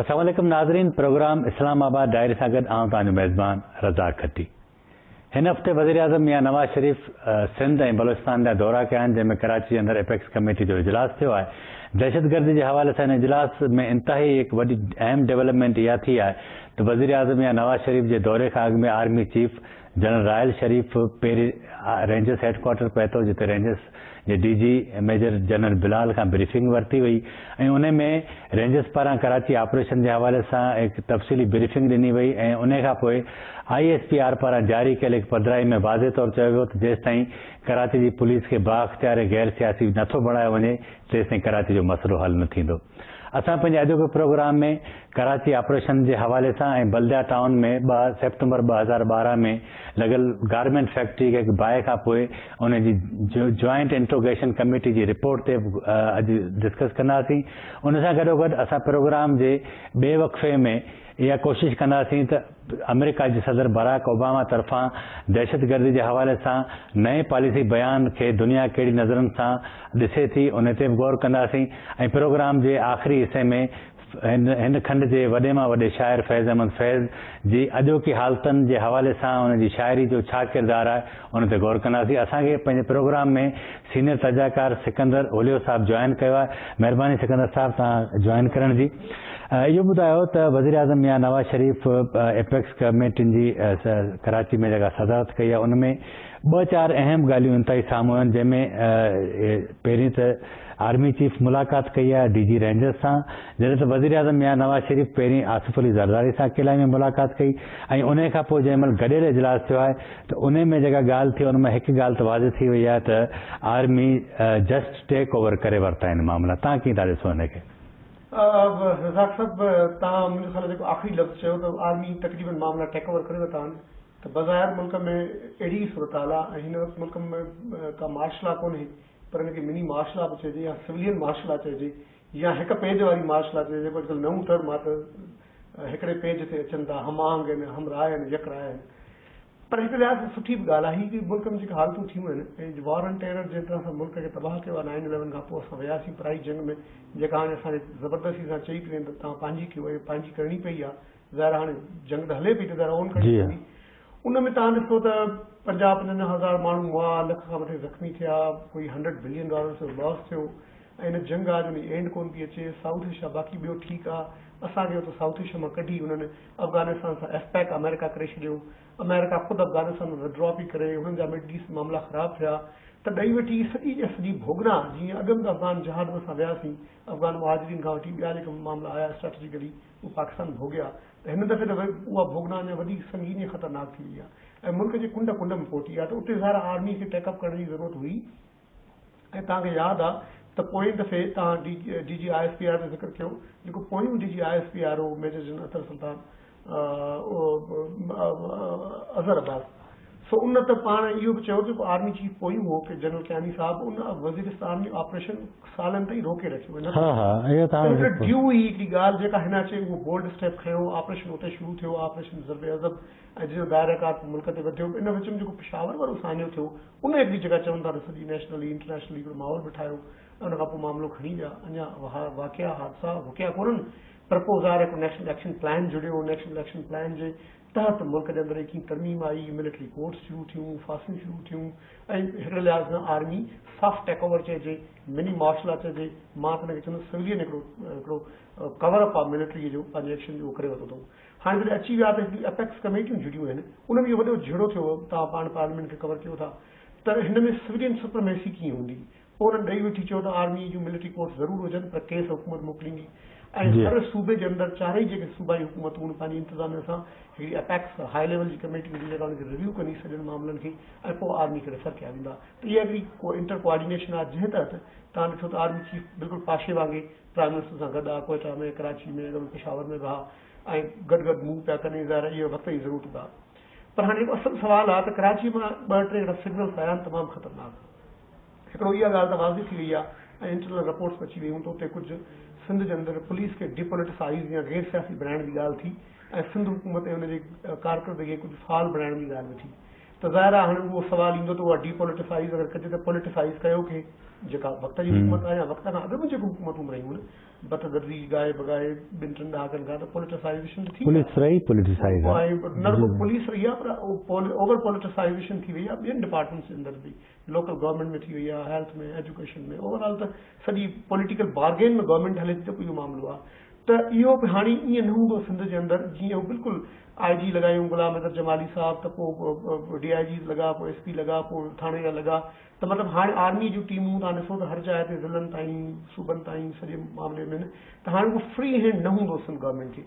السلام عليڪم ناظرين پروگرام اسلام آباد ڊائري سان گڏ آئون توهان جو ميزبان رزاق کٽي هن هفتي وزيراعظم ميان نواز شريف سنڌ ۽ بلوچستان جا دورا ڪيا آهن جنهن ۾ ڪراچي جي اندر اپيڪس ڪميٽي جو اجلاس ٿيو آهي دهشت گردي جي حوالي سان هن اجلاس ۾ انتهائي هڪ وڏي اهم ڊيولپمينٽ اها ٿي آهي ته وزيراعظم ميان نواز شريف جي دوري کان اڳ ۾ army chief general Raheel Sharif پيري رينجرز هيڊ ڪوارٽر پهتو جتي رينجرز جي D G major general Bilal کان بريفنگ ورتي وئي ۽ انهي ۾ رينجرز پاران ڪراچي آپريشن جي حوالي سان هڪ تفصيلي بريفنگ ڏني وئي ۽ انهي کان پوء آء ايس پي آر پاران جاري ڪيل هڪ پڌرائي ۾ واضح طور چيو ويو ته جيستائين ڪراچي جي پوليس کي بااختيار ۽ غير سياسي نٿو بڻايو وڃي تيستائين ڪراچي جو مسئلو حل نه ٿيندو. اسان پنهنجي اڄوڪي پروگرام ۾ ڪراچي آپريشن جي حوالي سان ۽ بلديا ٽائون ۾ ٻه سيپٽمبر ٻه هزار ٻارهن ۾ لڳل گارمينٽ فيڪٽري کي باهه کان پوء ان جي جوائنٽ انٽروگيشن ڪميٽي جي رپورٽ تي به اڄ ڊسڪس ڪنداسين ان سان گڏوگڏ اسان پروگرام جي ٻئي وقفي ۾ اها ڪوشش ڪنداسين ته آمريڪا جي صدر باراڪ اوباما طرفان دهشتگردي جي حوالي سان نئين پاليسي بيان کي دنيا ڪهڙي نظرن سان ڏسي ٿي ان تي به غور ڪنداسين ۽ پروگرام جي آخري حصي ۾ هن کنڊ جي وڏي مان وڏي شاعر فيض احمد فيض جي اڄوڪي حالتن جي حوالي سان ان جي شاعري جو ڇا ڪردار آهي ان تي غور ڪنداسين. اسان کي پنهنجي پروگرام ۾ سينيئر تجزياڪار سڪندر اوليو صاحب جوائن ڪيو آهي. مهرباني سڪندر صاحب توهان جوائن ڪرڻ جي. اهو ٻڌايو ته وزيراعظم ميان نواز شريف ايپڪس ڪميٽين جي ڪراچي ۾ جيڪا صدارت ڪئي آهي ان ۾ ٻه چار اهم ڳالهيون انتهائي سامهون آيون جنهن ۾ پهرين ته آرمي چيف ملاقات ڪئي آهي ڊي جي رينجرز سان جڏهن ته وزيراعظم ميان نواز شريف پهرين آصف علي زرداري سان ڪيلائي ۾ ملاقات ڪئي ۽ انهي کانپوء جنهن مهل گڏيل اجلاس ٿيو آهي ته انهي ۾ جيڪا ڳالهه ٿي ان مان هڪ ڳالهه ته واضح ٿي وئي آهي ته آرمي جسٽ ٽيڪ اوور ڪري ورتا آهن معاملا تهان ڪيئن ٿا ڏسو ان کي؟ رزاق صاحب تهان منهنجو خيال آهي جيڪو آخري لفظ چيو ته آرمي تقريبن معاملا ٽيڪ اوور ڪري ورتا آهن ته بظاهر ملڪ ۾ اهڙي ئي صورتحال آهي ۽ هن وقت ملڪ ۾ ڪا مارشل لا ڪونهي پر ان کي مني مارشل لا به چئجي يا سولين مارشل لا چئجي يا هڪ پيج واري مارشل لا چئجي جيڪو اڄڪلهه نئون ٽرم آهي ته هڪڙي پيج تي اچن ٿا هم آهنگ آهن هم راء آهن يڪ راء آهن پر هڪ لحاظ سان سٺي به ڳالهه آهي جو ملڪ ۾ جيڪي حالتون ٿيون آهن ۽ وار آن ٽيرر جنهن طرح سان ملڪ کي تباهه ڪيو آهي نائن اليون کان پوء اسان وياسين پرائي جنگ ۾ جيڪا هاڻي اسان کي زبردستي سان چئي پئي وڃن ته توهان پنهنجي ڪيو ۽ پنهنجي ڪرڻي پئي آهي ظاهر هاڻي جنگ ته هلي پئي ته ظاهر اون ڪرڻي پوندي ان ۾ توهان ڏسو ته پنجاهه پنجونجاهه هزار ماڻهو مئا لک کان مٿي زخمي ٿيا ڪوئي هنڊريڊ بلين ڊالرز جو لاس ٿيو ۽ نه جنگ آ جو ني اينڊ ڪون پي اچي سائوٿ ايشيا باقي ٻيو ٺيڪ آ اسان کي اتي سائوٿ ايشيا مان ڪڍي انهن افغانستان سان ايف پيڪ آمريڪا ڪري ڇڏيو آمريڪا خود افغانستان مان وڊرا پي ڪري انهن جا مڊل ايسٽ معاملا خراب ٿيا ته ڏئي وٺي سڄي جي سڄي ڀوڳنا جيئن اڳ ۾ افغان جهاد اسان وياسين افغان مهاجرين کان وٺي ٻيا جيڪا معاملا آيا اسٽريٽجيڪلي اهي پاڪستان ڀوڳيا ته هن دفعي ته اها ڀوڳنا اڃا وڌيڪ سنگين ۽ خطرناڪ ٿي وئي آ ۽ ملڪ جي ڪنڊ ڪنڊ ۾ پهتي آ ته اتي ظاهر آ آرمي کي ٽيڪ اپ ڪرڻ جي ضرورت هئي ۽ توهان کي ياد آ ته پوئين دفعي توهان D G I S P R جو ذڪر ڪيو جيڪو پويون D G I S P R هو ميجر جنرل اطهر سلطان اظهر عباس سو ان ته پاڻ اهو به چيو جيڪو آرمي چيف پويون هو ڪي جنرل ڪياني صاحب ان وزيرستان ۾ آپريشن سالن تائين روڪي رکيو هن ها ها اهي ته هاڻي ذڪر ڊيو هي هڪڙي ڳالهه جيڪا هن اچي اهو بولڊ اسٽيپ کنيو آپريشن اتي شروع ٿيو آپريشن ضرب عضب ۽ جنهن جو دائره ڪار ملڪ تي وڌيو ان وچ ۾ جيڪو پشاور وارو سانحو ٿيو ان اڳ جيڪا چون ٿا ته سڄي نيشنلي انٽرنيشنلي هڪڙو ماحول به ٺاهيو ۽ ان کان پوء معاملو کڻي ويا اڃا اها واقعا حادثا رڪيا ڪونهن پر پوء ظاهر هڪڙو نيشنل ايڪشن پلان جڙيو نيشنل ايڪشن پلان جي تحت ملڪ جي اندر ايڪين ترميم آئي ملٽري ڪورٽس شروع ٿيون ڦاسيون شروع ٿيون ۽ هڪڙي لحاظ سان آرمي سافٽ ٽيڪ اوور چئجي مني مارشل آرٽ چئجي مان ته ان کي چوندس سولين هڪڙو هڪڙو ڪور اپ آف ملٽري جو پنهنجي ايڪشن جو ڪري ورتو اٿئون هاڻي جڏهن اچي ويا ته هڪڙي اپيڪس ڪميٽيون جڙيون آهن ان ۾ اهو وڏو جهيڙو ٿيو هو توهان پاڻ پارليامينٽ کي ڪور ڪيو ٿا ته هن ۾ سولين سپرميسي ڪيئن هوندي پوء انهن ڏئي وٺي چيو ته آرمي جون ملٽري ڪورٽس ضرور هجن پر ڪيس حڪومت موڪليندي ۽ هر صوبي جي اندر چارئي جيڪي صوبائي حڪومتون هن پنهنجي انتظاميه سان هڪڙي اپيڪس هاء ليول جي ڪميٽي هوندي جيڪا ان کي ريويو ڪندي سڄڻ معاملن کي ۽ پوء آرمي کي ريفر ڪيا ويندا ته اها هڪڙي انٽر ڪوآرڊينيشن آهي جنهن تحت توهان ڏٺو ته آرمي چيف بلڪل پاشي وانگي پرائيم منسٽر سان گڏ آء ڪوئيٽا ۾ ڪراچي ۾ اڳ ۾ پشاور ۾ به ها ۽ گڏ گڏ مون پيا ڪني ظاهر اهي وقت جي ضرورت به ها پر هاڻي جيڪو اصل سوال ها ته ڪراچي مان ٻه ٽي جهڙا سگنلز آيا آهن تمام خطرناڪ هڪڙو اها ڳالهه ته واضح ٿي وئي آهي ۽ انٽرنل رپورٽس به اچي ويون ته اتي ڪجهه سنڌ جي اندر پوليس کي ڊي پوليٽسائيز يا غير سياسي بڻائڻ جي ڳالهه ٿي ۽ سنڌ حڪومت ۽ ان جي ڪارڪردگي کي ڪجهه فعال بڻائڻ جي ڳالهه به ٿي ته ظاهر آهي هاڻي اهو سوال ايندو ته اها ڊي پوليٽيسائيز اگر ڪجي ته پوليٽيسائيز ڪيو ڪنهن جيڪا وقت جي حڪومت آهي يا وقت کان اڳ ۾ جيڪو حڪومتون به رهيون آهن بت گردي ڳائي بڳائي ٻن ٽن ڏهاڪن کان ته پوليٽيسائيزيشن ته ٿي پوليس رهي پوليٽيسائيز آهي نه رڳو پوليس رهي آهي پر اوور پوليٽيسائيزيشن ٿي وئي آهي ٻين ڊپارٽمينٽس جي اندر به لوڪل گورنمينٽ ۾ ٿي وئي آ، هيلٿ ۾، ايجوڪيشن ۾ اوور آل ته سڄي پوليٽيڪل بارگين ۾ گورنمينٽ هلي ٿي ته پوء اهو معاملو آ ته اهو به هاڻي ائين نه هوندو سنڌ جي اندر جيئن هو بلڪل آء جي لڳايون غلام حيدر جمالي صاحب ته پوء ڊي آء جيز لڳا پوء ايس پي لڳا پوء ٿاڻي جا لڳا ته مطلب هاڻي آرمي جون ٽيمون تان ڏسو ته هر جاء تي ضلعن تائين صوبن تائين سڄي معاملي ۾ ته هاڻي اهو فري هينڊ نه هوندو سنڌ گورنمينٽ جي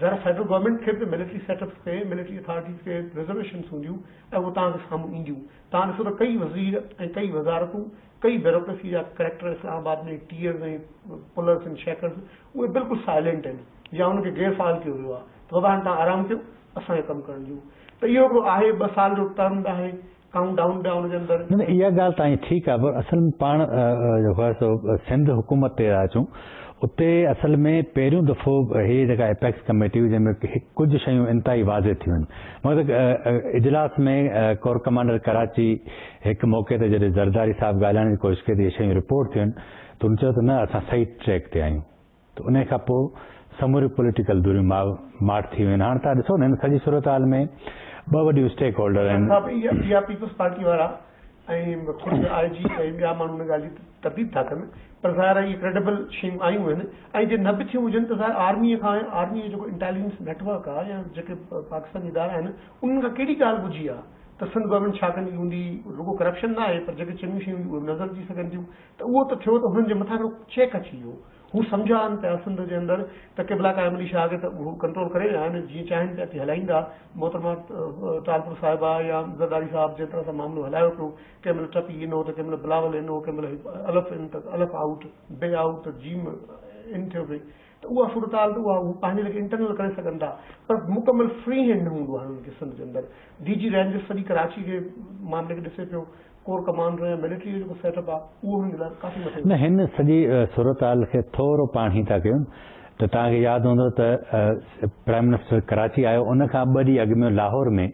ذرا فيڊرل گورنمينٽ کي به ملٽري سيٽ اپس تي ملٽري اٿارٽيز کي رزرويشنس هونديون ۽ اهو توهان جي سامهون اينديون. توهان ڏسو ته ڪئي وزير ۽ ڪئي وزارتون، ڪئي بيروڪريسي جا ڪريڪٽر اسلام آباد ۾ ٽيئرز ۽ پلرز ۽ شيڪرز اهي بلڪل سائلينٽ آهن يا انهن کي غير فعال ڪيو ويو آهي ته بابا هاڻي توهان آرام ڪيو اسان کي ڪم ڪرڻ ڏيو ته اهو هڪڙو آهي ٻه سال جو ٽرم به آهي ڪائونٽ ڊائون ڊائون جي اندر. نه نه اها ڳالهه توهان جي ٺيڪ آهي پر اصل ۾ پاڻ جو خير سو سنڌ حڪومت تي ٿا اچون اتي اصل ۾ پهريون دفعو هي جيڪا اپيڪس ڪميٽي هئي جنهن ۾ ڪجهه شيون انتهائي واضح ٿيون آهن مگر اجلاس ۾ ڪور ڪمانڊر ڪراچي هڪ موقعي تي جڏهن زرداري صاحب ڳالهائڻ جي ڪوشش ڪئي ته اهي شيون رپورٽ ٿيون ته هن چيو ته نه اسان صحيح ٽريڪ تي آهيون ته انهيء کان پوء سموريون پوليٽيڪل ڌريون ماء ماٺ ٿي ويون آهن. هاڻ تهان ڏسو نه هن سڄي صورتحال ۾ ٻه وڏيون اسٽيڪ هولڊر آهن. ڇا P I P Peoples Party وارا ۽ خود آء جي ۽ ٻيا ماڻهو ان ڳالهه جي ترديد ٿا ڪن پر ظاهر آهي اهي ڪريڊبل شيون آيون آهن ۽ جي نه به ٿيون هجن ته ظاهر آرميء کان ۽ آرميء جو جيڪو انٽيليجنس نيٽ ورڪ آهي يا جيڪي پاڪستان جي ادارا آهن انهن کان ڪهڙي ڳالهه ٻجهي آهي ته سنڌ گورنمينٽ ڇا ڪندي هوندي رڳو ڪرپشن نه آهي پر جيڪي چڱيون شيون هونديون اهي به نظر اچي سگهن ٿيون ته اهو ته ٿيو ته انهن جي مٿان هڪڙو چيڪ اچي ويو. هو سمجهيا آهن پيا سنڌ جي اندر ته قبلا قائم علي شاهه کي ته هو ڪنٽرول ڪري ويا آهن، جيئن چاهين پيا تيئن هلائيندا. محترمه ٽالپر صاحبه يا زرداري صاحب جنهن طرح سان معاملو هلايو پيو، ڪنهن مهل ٽپي ان هو ته ڪنهن مهل بلاول ان هو، ڪنهن مهل الف ان ته الف آئوٽ، بي آئوٽ ته جيم ان ٿيو پئي. ته اها صورتحال ته اها پنهنجي ليکي انٽرنل ڪري سگهن ٿا پر مڪمل فري هينڊ نه هوندو آهي انهن کي سنڌ جي اندر ڊي جي رينجرز سڄي ڪراچي جي معاملي کي ڏسي پيو ڪور ڪمانڊر يا ملٽري جو جيڪو سيٽ اپ آهي اهو هنن جي لاء ڪافي مٿي نه هن سڄي صورتحال کي ٿورو پاڻهي ٿا ڪيون ته توهان کي ياد هوندو ته پرائيم منسٽر ڪراچي آيو ان کان ٻه ڏينهن اڳ ۾ لاهور ۾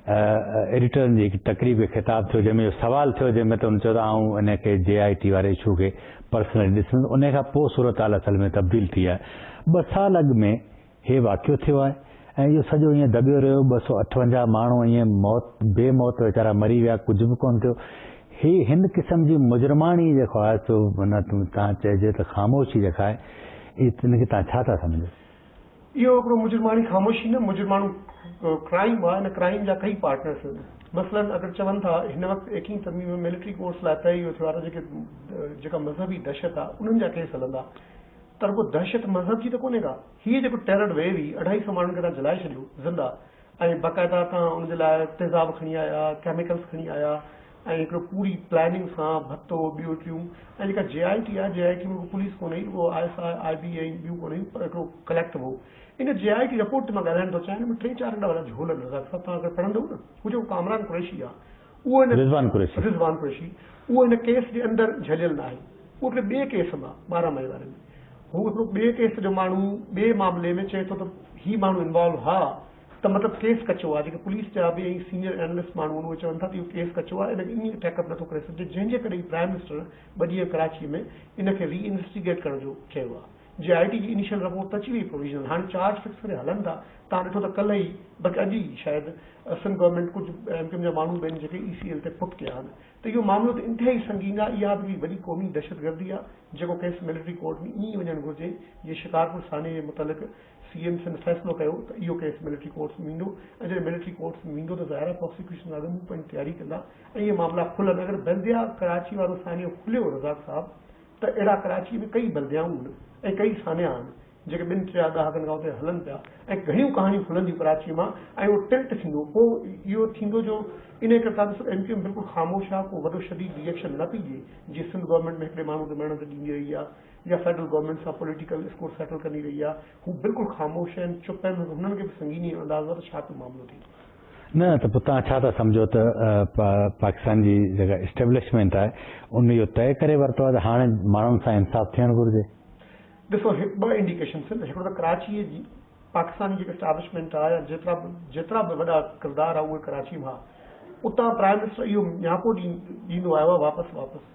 ايڊيٽرن جي هڪ تقريب کي خطاب ٿيو جنهن ۾ اهو سوال ٿيو جنهن ۾ ته هن چيو ته آئون انهي کي جي آء ٽي واري اشو کي پرسنلي ڏسندس انهي کان پوء صورتحال اصل ۾ تبديل ٿي آهي ٻه سال اڳ ۾ هي واقعو ٿيو آهي ۽ اهو سڄو ائين دٻيو رهيو ٻه سؤ اٺونجاهه ماڻهو ائين موت بي موت ويچارا مري ويا ڪجهه به ڪونه ٿيو هي هن قسم جي مجرماڻي جيڪو آهي سو تان چئجي ته خاموشي جيڪا آهي ان کي تان ڇا ٿا سمجهو. اهو هڪڙو مجرماڻي خاموشي نه مجرماڻو ڪرائيم آهي نه ڪرائيم جا ڪئي پارٽنرز آهن مثلاً اگر چون ٿا هن وقت ايڪيهين ترميم ۾ ملٽري ڪورٽس لاء طئي اهو ٿيو آهي ته جيڪي جيڪا مذهبي دهشت آهي انهن جا ڪيس هلندا ته رڳو دهشت مذهب جي ته ڪونهي ڪا هيء جيڪو ٽيرر ويو هي اڍائي سئو ماڻهن کي تان جلائي ڇڏيو زنده ۽ باقاعده تان ان جي لاء تيزاب کڻي آيا ڪيميڪلز کڻي آيا ۽ هڪڙو پوري پلاننگ سان ڀتو ٻيو ٽيون ۽ جيڪا جي آء ٽي آهي جي آء ٽي ۾ ڪو پوليس ڪونهي رڳو آء ايس آء آء بي ۽ ٻيون ڪونهن هيون پر هڪڙو ڪليڪٽ هو ان جي آء ٽي رپورٽ تي مان ڳالهائڻ ٿو چاهيان ان ۾ ٽي چار اهڙا وڏا جهول آهن رزاق صاحب توهان اگر پڙهندؤ نه هو جيڪو ڪامران قريشي آهي اهو هن رضوان قريشي رضوان قريشي اهو هن ڪيس جي اندر جهليل ناهي اهو هڪڙي ٻئي ڪيس مان ٻارهن مئي واري ۾ هو هڪڙو ٻئي ڪيس جو ماڻهو ٻئي معاملي ۾ چئي ٿو ته هي ماڻهو انوالو ها ته مطلب ڪيس ڪچو آهي، جيڪي پوليس جا به ۽ سينئر اينالسٽ ماڻهو آهن اهي چون ٿا ته اهو ڪيس ڪچو آهي ان کي ائين ٺيڪ اپ نٿو ڪري سگهجي جنهن جي ڪري ئي پرائم منسٽر ٻه ڏينهن ڪراچي ۾ ان کي ري انويسٽيگيٽ ڪرڻ جو چيو آهي جي آء ٽي جي انيشل رپورٽ ته اچي وئي پروويزنل هاڻي چارج فڪس ڪري هلن ٿا تان ڏٺو ته ڪلهه ئي بلڪه اڄ ئي شايد سنڌ گورنمينٽ ڪجهه ايم ڪيو ايم جا ماڻهو به آهن جيڪي اي سي ايل تي فٽ ڪيا آهن ته اهو معاملو ته انتهائي سنگين آهي اها به هڪڙي وڏي قومي دهشتگردي آهي جيڪو ڪيس ملٽري ڪورٽ ۾ ائين ئي وڃڻ گهرجي جيئن شڪارپور ثاني جي متعلق سي ايم سنڌ فيصلو ڪيو ته اهو ڪيس ملٽري ڪورٽس ۾ ويندو ۽ جڏهن ملٽري ڪورٽس ۾ ويندو ته ظاهرا پراسيڪيوشن لاء به مون پنهنجي تياري ڪندا ۽ اهي معاملا کلن اگر بلديا ڪراچي وارو سانحو کليو رزاق صاحب ته اهڙا ڪراچي ۾ ڪئي بلديائون آهن ۽ ڪئي سانحا آهن جيڪي ٻن ٽيا ڏهاڪن کان اتي هلن پيا ۽ گهڻيون ڪهاڻيون کلنديون ڪراچي مان ۽ اهو ٽلٽ ٿيندو پوء اهو ٿيندو جو انهي ڪري تازو ايم ڪيو ايم بلڪل خاموش آهي ڪو وڏو شديد ري ايڪشن نه پئي ڏئي جيئن سنڌ گورنمينٽ ۾ هڪڙي ماڻهو کي مرڻ تي ڏيندي رهي آهي جا فيڊرل گورنمينٽ سان پوليٽيڪل اسڪور سيٽل ڪندي رهي آهي هو بلڪل خاموش آهن چپ آهن هنن کي به سنگيني ۽ انداز آهي ته ڇا پيو معاملو ٿي ٿو. نه ته پوء توهان ڇا ٿا سمجهو ته پاڪستان جي جيڪا اسٽيبلشمينٽ آهي ان اهو طئي ڪري ورتو آهي ته هاڻي ماڻهن سان انصاف ٿيڻ گهرجي. ڏسو هي ٻه انڊيڪيشنس آهن هڪڙو ته ڪراچي جي پاڪستان جي جيڪا اسٽيبلشمينٽ آهي يا جيترا به جيترا به وڏا ڪردار آهي اهي ڪراچي مان اتان پرائيم منسٽر اهو نياپو ڏيندو آيو آهي واپس واپس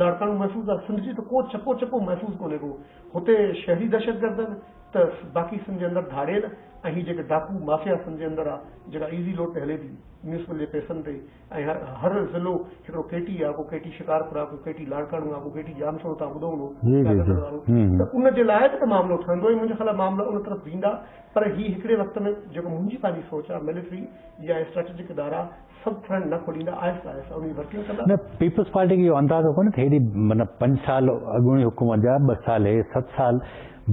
لاڙڪاڻو محفوظ آ، سنڌ جي ته ڪو چڪو چڪو محفوظ ڪونهي ڪو، هتي شهري دهشتگردن ته باقي سنڌ جي اندر ڌاڙيل ۽ هي جيڪي ڊاڪو مافيا سنڌ جي اندر آ جيڪا ايزي لوڊ تي هلي ٿي ميونسپل جي پئسن تي ۽ هر ضلعو هڪڙو ڪي ٽي آ ڪو ڪي ٽي شڪارپور آ ڪو ڪي ٽي لاڙڪاڻو آ ڪو ڪي ٽي ڄامشورو توهان ٻڌو هوندو ڪيادرن وارو ته ان جي لاء به ته معاملو ٺهندو ۽ منهنجي خيال آ معاملا ان طرف ويندا پر هي هڪڙي وقت ۾ جيڪو منهنجي پنهنجي سوچ آ ملٽري يا اسٽريٽجڪ ادارا سڀ ٿرن نه کوڏيندا آهستي آهستي اوهين ورڪنگ ڪندا. نه پيپلز پارٽي کي اهو اندازو ڪونهي ته هيڏي من پنج سال اڳوڻي حڪومت جا ٻه سال هي ست سال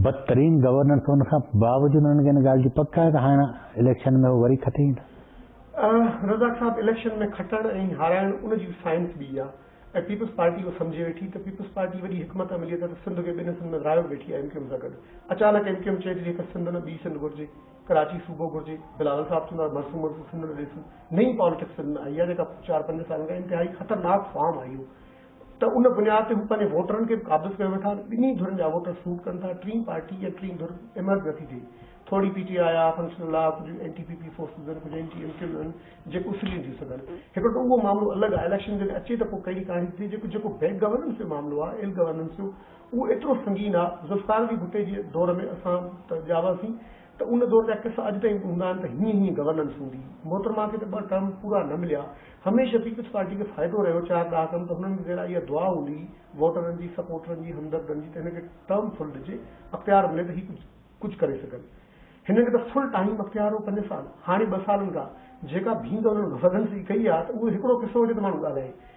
بدترين گورننس ان کان باوجود انهن کي ان ڳالهه جي پڪ آهي ته هاڻ اليڪشن ۾ هو وري کٽي ايندا. رزاق صاحب اليڪشن ۾ کٽڻ ۽ هارائڻ ان جي سائنس ٻي آهي ۽ پيپلز پارٽي اهو سمجهي ويٺي ته پيپلز پارٽي وڏي حڪمت عملي تحت سنڌ کي ٻن حصن ۾ ورهايو ويٺي آهي ايم ڪيو ايم سان گڏ اچانڪ ايم ڪيو ايم چئي ٿي جيڪر سنڌ نه ٻي سنڌ گهرجي ڪراچي صوبو گهرجي بلاول صاحب چوندو آهي مرسون مرسون سنڌ نه ڏيسون نئين پاليٽڪس سنڌ ۾ آئي آهي جيڪا چار پنج سالن کان انتهائي خطرناڪ فارم آئي هو ته ان بنياد تي هو پنهنجي ووٽرن کي به قابض ڪيو ويٺا آهن ٻنهي ڌرين جا ووٽر سوٽ ڪن ٿا ٽين پارٽي يا ٽين ڌر ايمرج نٿي ٿئي ٿوري پي ٽي آئي آ فنڪشن الله ڪجهه N T P P forces آهن ڪجهه اين ٽي ايم ڪيون آهن جيڪو اسليون ٿي سگهن هڪڙو ته اهو معاملو الڳ آهي اليڪشن جڏهن اچي ته پوء ڪهڙي ڪهاڻي ٿي ٿئي جيڪو جيڪو بيڪ گورننس جو معاملو آهي ايل گورننس جو اهو ايترو سنگين آ، ذوالفقار علي ڀٽي جي دور ۾ اسان ته ڄا هئاسين ته ان دور جا قصا اڄ تائين به هوندا آهن ته هيئن هيئن گورننس هوندي هئي. محترمه کي ته ٻه ٽرم پورا نه مليا. هميشه پيپلز پارٽي کي فائدو رهيو چار ڏهاڪن ته هنن کي ذرا اها دعا هوندي هئي ووٽرن جي، سپورٽرن جي، همدردن جي ته هن کي ٽرم فل ڏجي، اختيار ملي ته هي ڪجهه ڪري سگهن. هنن کي ته فل ٽائيم اختيار هو پنج سال، هاڻي ٻه سالن کان جيڪا ڀينگ انهن وڳن سي ڪئي آ ته اهو هڪڙو قصو هجي ته ماڻهو ڳالهائي.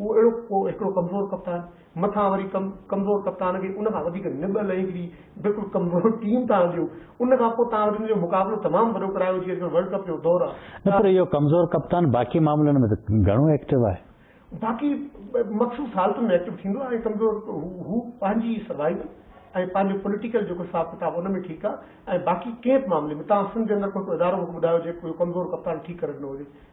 هو اهڙو ڪو هڪڙو ڪمزور ڪپتان، مٿان وري ڪمزور ڪپتان کي ان کان وڌيڪ نٻل ۽ هڪڙي بلڪل ڪمزور ٽيم تان آنديو، ان کان پوء توهان وٽ ان جو مقابلو تمام وڏو ڪرايو جيئن اڄڪلهه ورلڊ ڪپ جو دور آهي نه پر اهو ڪمزور ڪپتان باقي معاملن ۾ ته گهڻو ايڪٽو آهي. باقي مخصوص حالتن ۾ ايڪٽو ٿيندو آهي ۽ ڪمزور هو پنهنجي سروائيول ۽ پنهنجو پوليٽيڪل جيڪو حساب ڪتاب ان ۾ ٺيڪ آهي ۽ باقي ڪنهن به معاملي ۾ توهان سنڌ جي اندر ڪو هڪڙو ادارو مونکي ٻڌايو جيڪو اهو ڪمزور ڪپتان ٺيڪ ڪري ڏنو هجي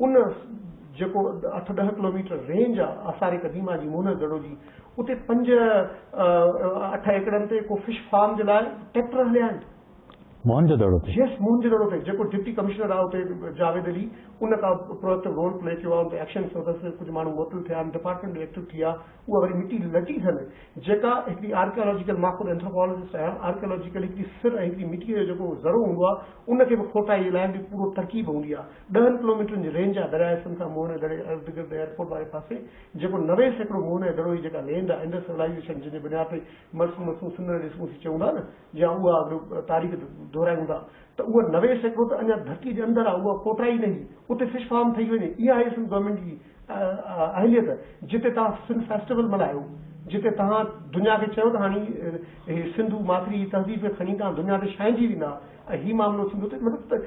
ان جيڪو اٺ ڏهه ڪلوميٽر رينج آ آثار قديمه جي موهن دڙو جي اتي پنج اٺ ايڪڙن تي ڪو فش فارم جي لاء ٽريڪٽر هليا آهن. موهن جو دڙو تي؟ يس موهن جو دڙو تي جيڪو ڊپٽي ڪمشنر آ اتي جاويد علي ان ڪا پروئڪٽو رول پلي ڪيو آ ان تي ايڪشن ٿيو اٿس ڪجهه ماڻهو معطل ٿيا آهن ڊپارٽمينٽ به ايڪٽو ٿي آ اها وري مٽي لٽي ٿن جيڪا هڪڙي آرڪيالاجيڪل مان خود اينٿروپالاجسٽ آهيان آرڪيالاجيڪل هڪڙي سر ۽ هڪڙي مٽي جو جيڪو ذرو هوندو آ ان کي به کوٽائي جي لاء هڪڙي پورو ترڪيب هوندي آ ڏهن ڪلوميٽرن جي رينج آهي درياهه سنڌ کان موهن دڙي اردگرد ايئرپورٽ واري پاسي جيڪو نوي سيڪڙو موهن ۽ دڙو جي جيڪا لينڊ آهي انڊس سولائيزيشن جنهن جي بنياد تي مرسون مسون سنڌ نه ڏسون سي چئون ٿا نه جي اها اڳ تاريخ دهرايون ٿا ته اها نوي سيڪڙو ته اڃا ڌرتي جي اندر آهي اها ڪوٽرا ئي نهي اتي فش فارم ٺهي وڃي اها آهي سنڌ گورنمينٽ جي اهليت جتي تهان سنڌ فيسٽيول ملهايو جتي تهان دنيا کي چيو ته هاڻي هي سنڌو ماٿري جي تهذيب کي کڻي تهان دنيا تي ڇائنجي ويندا ۽ هي معاملو ٿيندو ته مطلب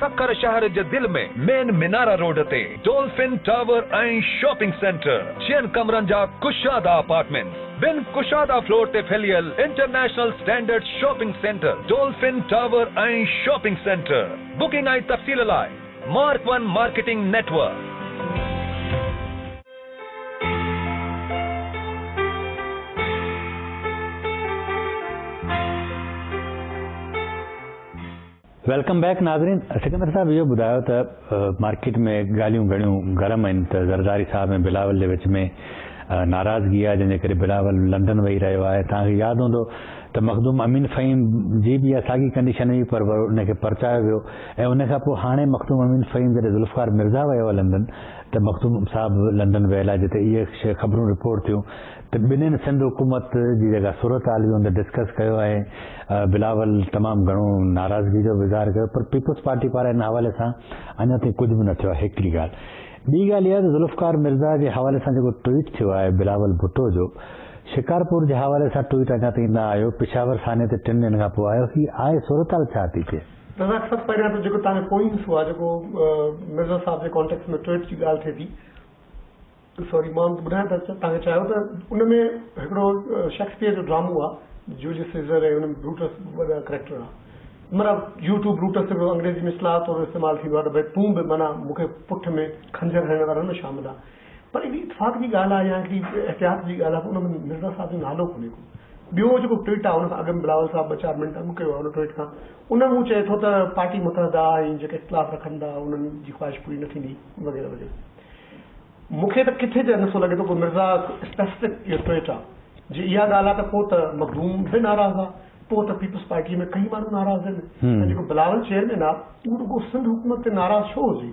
سکر شهر جي دل ۾ مين منارا روڊ تي ڊولفن ٽاور ۽ شاپنگ سينٽر جئن ڪمرن جا ڪشادا اپارٽمينٽس بن ڪشادا فلور تي ڦهليل international standard shopping centre dolphin tower ۽ shopping centre booking ۽ تفصيل لاء mark one marketing network. Welcome back ناظرين سڪندر صاحب اهو ٻڌايو ته مارڪيٽ ۾ ڳالهيون گهڻيون گرم آهن ته زرداري صاحب ۽ بلاول جي وچ ۾ ناراضگي آهي جنهن جي ڪري بلاول لنڊن ويهي رهيو آهي توهان کي ياد هوندو ته مخدوم امين فهيم جي به ساڳي ڪنڊيشن هئي پر ان کي پرچايو ويو ۽ ان کان پوء هاڻي مخدوم امين فهيم جڏهن ذوالفقار مرزا ويو آهي لنڊن ته مخدوم صاحب لنڊن ويل آهي جتي اهي شيء خبرون رپورٽ ٿيون ته ٻنهين سنڌ حڪومت جي جيڪا صورت حال هئي ان تي ڊسڪس ڪيو ۽ بلاول تمام گهڻو ناراضگي جو به اظهار ڪيو پر پيپلز پارٽي پاران ان حوالي سان اڃا تائين ڪجهه به نه ٿيو آهي هڪڙي ڳالهه ٻي ڳالهه اها آهي ته ذوالفقار مرزا جي حوالي سان جيڪو ٽوئيٽ ٿيو آهي بلاول ڀٽو جو شڪارپور جي حوالي سان ٽوئيٽ اڃا تائين نه آيو پشاور ثاني تي ٽن ڏينهن کان پوء آيو هي آهي صورت حال ڇا ٿي ٿئي. رزاق صاحب پهريان ته جيڪو تهانجو پوئين حصو آهي جيڪو مرزا صاحب جي ڪانٽيڪس ۾ ٽوئيٽ جي ڳالهه ٿئي ٿي سوري مان ٻڌائڻ ته تهانکي چاهيو ته ان ۾ هڪڙو شيڪسپيئر جو ڊرامو آهي جوليس سيزر ۽ ان بروٽس وڏا ڪريڪٽر آهي منا يو ٽو بروٽس هڪڙو انگريزي ۾ اصطلاح طور استعمال ٿيندو آهي ته ڀاء تون به منا مون کي پٺ ۾ خنجر هڻڻ وارن ۾ شامل آهي پر اهڙي اتفاق جي ڳالهه آهي يا هڪڙي احتياط جي ڳالهه آهي ته ان ۾ مرزا صاحب جو نالو ڪونهي ڪو. ٻيو جيڪو ٽوئيٽ آهي ان کان اڳ ۾ بلاول صاحب ٻه چار منٽ اڳ ڪيو آهي ان ٽوئيٽ کان ان ۾ هو چئي ٿو ته پارٽي متحده آهي ۽ جيڪي اختلاف رکن ٿا انهن جي خواهش پوري نه ٿيندي وغيره وغيره. مون کي ته ڪٿي ته نٿو لڳي ته ڪو مرزا اسپيسفڪ اهو ٽوئيٽ آهي. جي اها ڳالهه آهي ته پوء ته مخدوم به ناراض آهي پوء ته پيپلز پارٽيء ۾ ڪئين ماڻهو ناراض آهن ۽ جيڪو بلاول چيئرمين آهي اهو رڳو سنڌ حڪومت تي ناراض ڇو هجي؟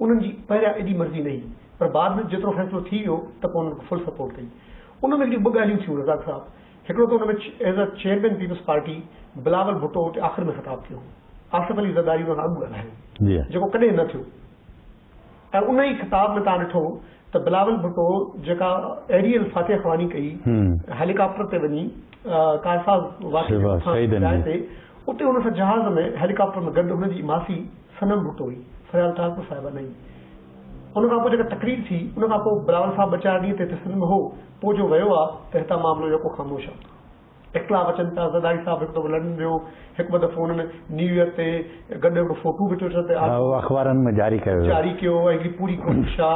انهن جي پهريان ايڏي مرضي نه هئي پر بعد ۾ جيترو فيصلو ٿي ويو ته پوء انهن کي فل سپورٽ ڪئي. ان ۾ هڪڙيون ٻه ڳالهيون ٿيون رزاق صاحب، هڪڙو ته ان ۾ as a chairman Peoples Party Bilawal Bhutto اتي آخر ۾ خطاب ٿيو هو. آصف علي زرداري ان کان اڳ ڳالهايو هو جيڪو ڪڏهن نه ٿيو ۽ ان ئي خطاب ۾ توهان ڏٺو ته بلاول ڀٽو جيڪا ايريل فاتح خواني ڪئي هيليڪاپٽر تي وڃي ڪارساز واقعي جي مٿان جاء تي اتي هن سان جهاز ۾ هيليڪاپٽر ۾ گڏ هن جي ماسي صنم ڀٽو هئي فريال ٽالپر صاحبه نئي ان کان پوء جيڪا تقرير ٿي ان کان پوء بلاول صاحب ٻه چار ڏينهن تي هتي سنڌ ۾ هو پوء جو ويو آ ته هتان معاملو يڪو خاموش آ. اختلاف اچن ٿا، زرداري صاحب هڪ دفعو لنڊن ويو، هڪ ٻه دفعو انهن نيو ايئر تي گڏ هڪڙو فوٽو به ٽوئٽر تي آيو. اهو اخبارن ۾ جاري ڪيو ويو. جاري ڪيو ويو ۽ هڪڙي پوري ڪوشش آ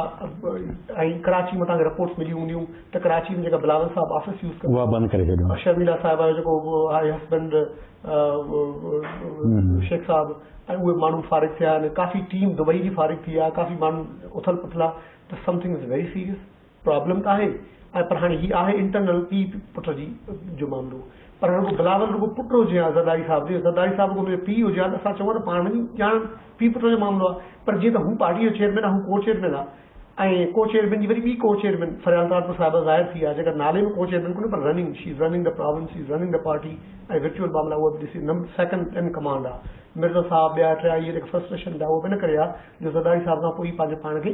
۽ ڪراچي مان تهانکي رپورٽس مليون هونديون ته ڪراچي ۾ جيڪا بلاول صاحب آفيس يوز ڪندا اها بند ڪري ڇڏيو. شرميلا صاحبه جو جيڪو آهي هسبنڊ شيخ صاحب ۽ اهي ماڻهو فارغ ٿيا آهن، ڪافي ٽيم دبئي جي فارغ ٿي آ، ڪافي ماڻهو اٿل پٿل آ ته something is very serious. Problem آهي ۽ پر هاڻي هي آهي انٽرنل پي پٽ جي جو معاملو پر هاڻي رڳو بلاول رڳو پٽ هجي ها زرداري صاحب جو زرداري صاحب رڳو منهنجو پي هجي ها ته اسان چئون ها ته پاڻ وڃي ڄاڻن پي پٽ جو معاملو آهي پر جيئن ته هو پارٽي جو چيئرمين آهي هو ڪو چيئرمين آهي ۽ ڪو چيئرمين جي وري ٻي ڪو چيئرمين فريال طاهرپور صاحبه ظاهر ٿي آهي جيڪا نالي ۾ ڪو چيئرمين ڪونهي پر رننگ شي از رننگ ته پرابلم شي از رننگ ته پارٽي ۽ ورچوئل معاملا اهو به ڏسي نمبر سيڪنڊ ان ڪمانڊ آهي مرزا صاحب ٻيا ٽيا اهي جيڪا فرسٽريشن ٿا اهو به ان ڪري آهي جو زرداري صاحب کان پوء پنهنجو پاڻ کي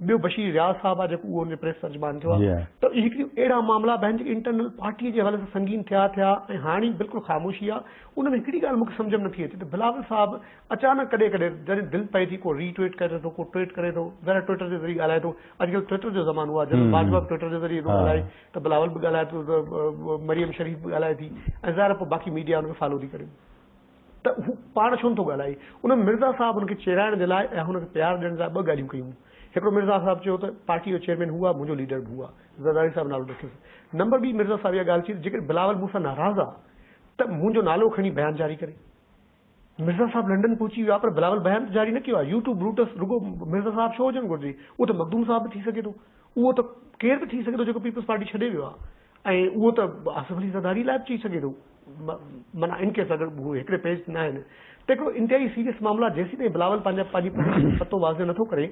ٻيو بشير رياض صاحب آهي جيڪو اهو ان جو پريس ترجمان ٿيو آهي ته اهي هڪ ڏينهن اهڙا معاملا به آهن جيڪي انٽرنل پارٽي جي حوالي سان سنگين ٿيا ٿيا ۽ هاڻي بلڪل خاموشي آهي ان ۾ هڪڙي ڳالهه مون کي سمجهه ۾ نٿي اچي ته بلاول صاحب اچانڪ ڪڏهن ڪڏهن جڏهن دل پئي ٿي ڪو ري ٽوئيٽ ڪري ٿو ڪو ٽوئيٽ ڪري ٿو ذرا ٽوئيٽر جي ذريعي ڳالهائي ٿو اڄڪلهه ٽوئيٽر جو زمانو آهي جنرل باجوا به ٽوئيٽر جي ذريعي ٿو ڳالهائي ته بلاول به ڳالهائي ٿو ته مريم شريف به ڳالهائي ٿي ۽ ظاهر آهي پوء باقي ميڊيا ان کي فالو ٿي ڪريون ته هو پاڻ ڇونه ٿو ڳالهائي. انهن مرزا صاحب هن کي چيرائڻ جي لاء ۽ هن کي پيار ڏيڻ لاء ٻه ڳالهيون ڪيون. هڪڙو مرزا صاحب چيو ته پارٽيء جو چيئرمين هو آ، منهنجو ليڊر به هو آ، زرداري صاحب نالو رکيس. نمبر ٻي مرزا صاحب اها ڳالهه چئي ته جيڪڏهن بلاول مون سان ناراض آ ته منهنجو نالو کڻي بيان جاري ڪري. مرزا صاحب لنڊن پهچي ويو آ پر بلاول بيان ته جاري نه ڪيو آ. يو ٽو بروٽس رڳو مرزا صاحب ڇو هجڻ گهرجي. اهو ته مخدوم صاحب به ٿي سگهي ٿو. اهو ته ڪير به ٿي سگهي ٿو جيڪو پيپلز پارٽي ڇڏي ويو آ. ۽ اهو ته آصف علي زرداري لاء به چئي سگهي ٿو معنيٰ ان ڪيس اگر هو هڪڙي پيج تي ناهن ته هڪڙو انتهائي سيريس معاملو آهي جيسيتائين بلاول پنهنجا پنهنجي پوزيشن جو پتو واضح نٿو ڪري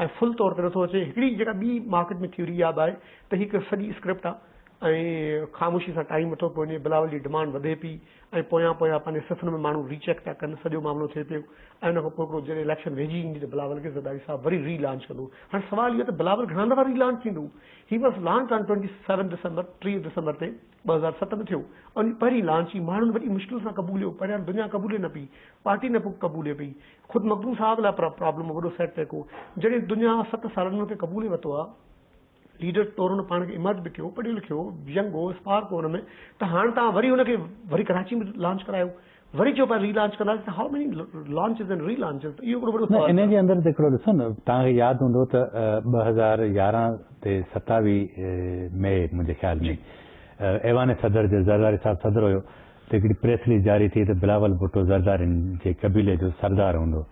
۽ فل طور تي نٿو اچي هڪڙي جيڪا ٻي مارڪيٽ ۾ ٿيوري اها به آهي ته هي هڪ سڄي اسڪرپٽ آهي ۽ خاموشي سان ٽائيم وٺو پيو وڃي بلاول جي ڊمانڊ وڌي پئي ۽ پويان پويان پنهنجي صفن ۾ ماڻهو ري چيڪ ٿا ڪن سڄو معاملو ٿئي پيو ۽ ان کان پوء هڪڙو جڏهن اليڪشن ويجهي ايندي ته بلاول کي زرداري صاحب وري ري لانچ ڪندو هاڻي سوال اهو آهي ته بلاول گهڻا دفعا ري لانچ ٿيندو هي بس launch time twenty seven December, ٽيهه ڊسمبر، تي ٻه هزار ست ۾ ٿيو ۽ ان پهرين لانچ ئي ماڻهن وڏي مشڪل سان قبوليو، پهريان دنيا قبولي نه پئي، پارٽي نه قبولي پئي، خود مخدوم صاحب لاء پرابلم هو، وڏو سيٽ بيڪ هو، جڏهن دنيا ست سالن ۾ ان کي قبولي ورتو ها، ليڊر طور هن پاڻ کي ايمرج به ڪيو، پڙهيو لکيو ينگ هو، اسپارڪ هو ان ۾ ته هاڻ توهان وري ان کي وري ڪراچي ۾ لانچ ڪرايو. وري چئو پيا ري لانچ ڪنداسين ته how many launches and relaunches ته اهو هڪڙو وڏو سوال نه ان جي اندر ته هڪڙو ڏسو نه توهان کي ياد هوندو ته ٻه هزار يارهن تي ستاوي مئي منهنجي خيال ۾ ايوان صدر جو زرداري صاحب صدر هيو ته هڪڙي پريس رليز جاري ٿي ته بلاول ڀٽو زردارين جي قبيلي جو سردار هوندو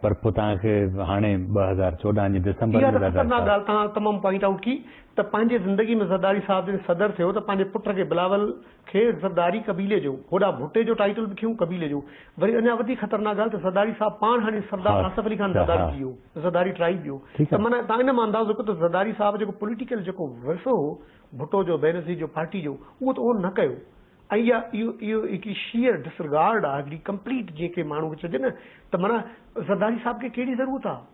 پر پوء توهان کي هاڻي ٻه هزار چوڏهن جي ڊسمبر اها ته خطرناڪ ڳالهه توهان تمام پوائنٽ آئوٽ ڪئي ته پنهنجي زندگي ۾ زرداري صاحب جڏهن صدر ٿيو ته پنهنجي پٽ کي بلاول کيس زرداري قبيلي جو هوڏا ڀٽي جو ٽائيٽل به کيون قبيلي جو وري اڃا وڌيڪ خطرناڪ ڳالهه ته زرداري صاحب پاڻ هاڻي سردار آصف علي خان زرداري ٿي ويو زرداري ٽرائيب جو ته معنيٰ تان ان مان اندازو ڪيو ته زرداري صاحب جيڪو پوليٽيڪل جيڪو ورثو هو ڀٽو جو بينظير جو پارٽي جو اهو ته اهو نه ڪيو ۽ اها اهو اهو هڪڙي شيئر ڊسرگارڊ آهي هڪڙي ڪمپليٽ جنهن کي ماڻهو کي چئجي نه ته معنيٰ زرداري صاحب کي ڪهڙي ضرورت آهي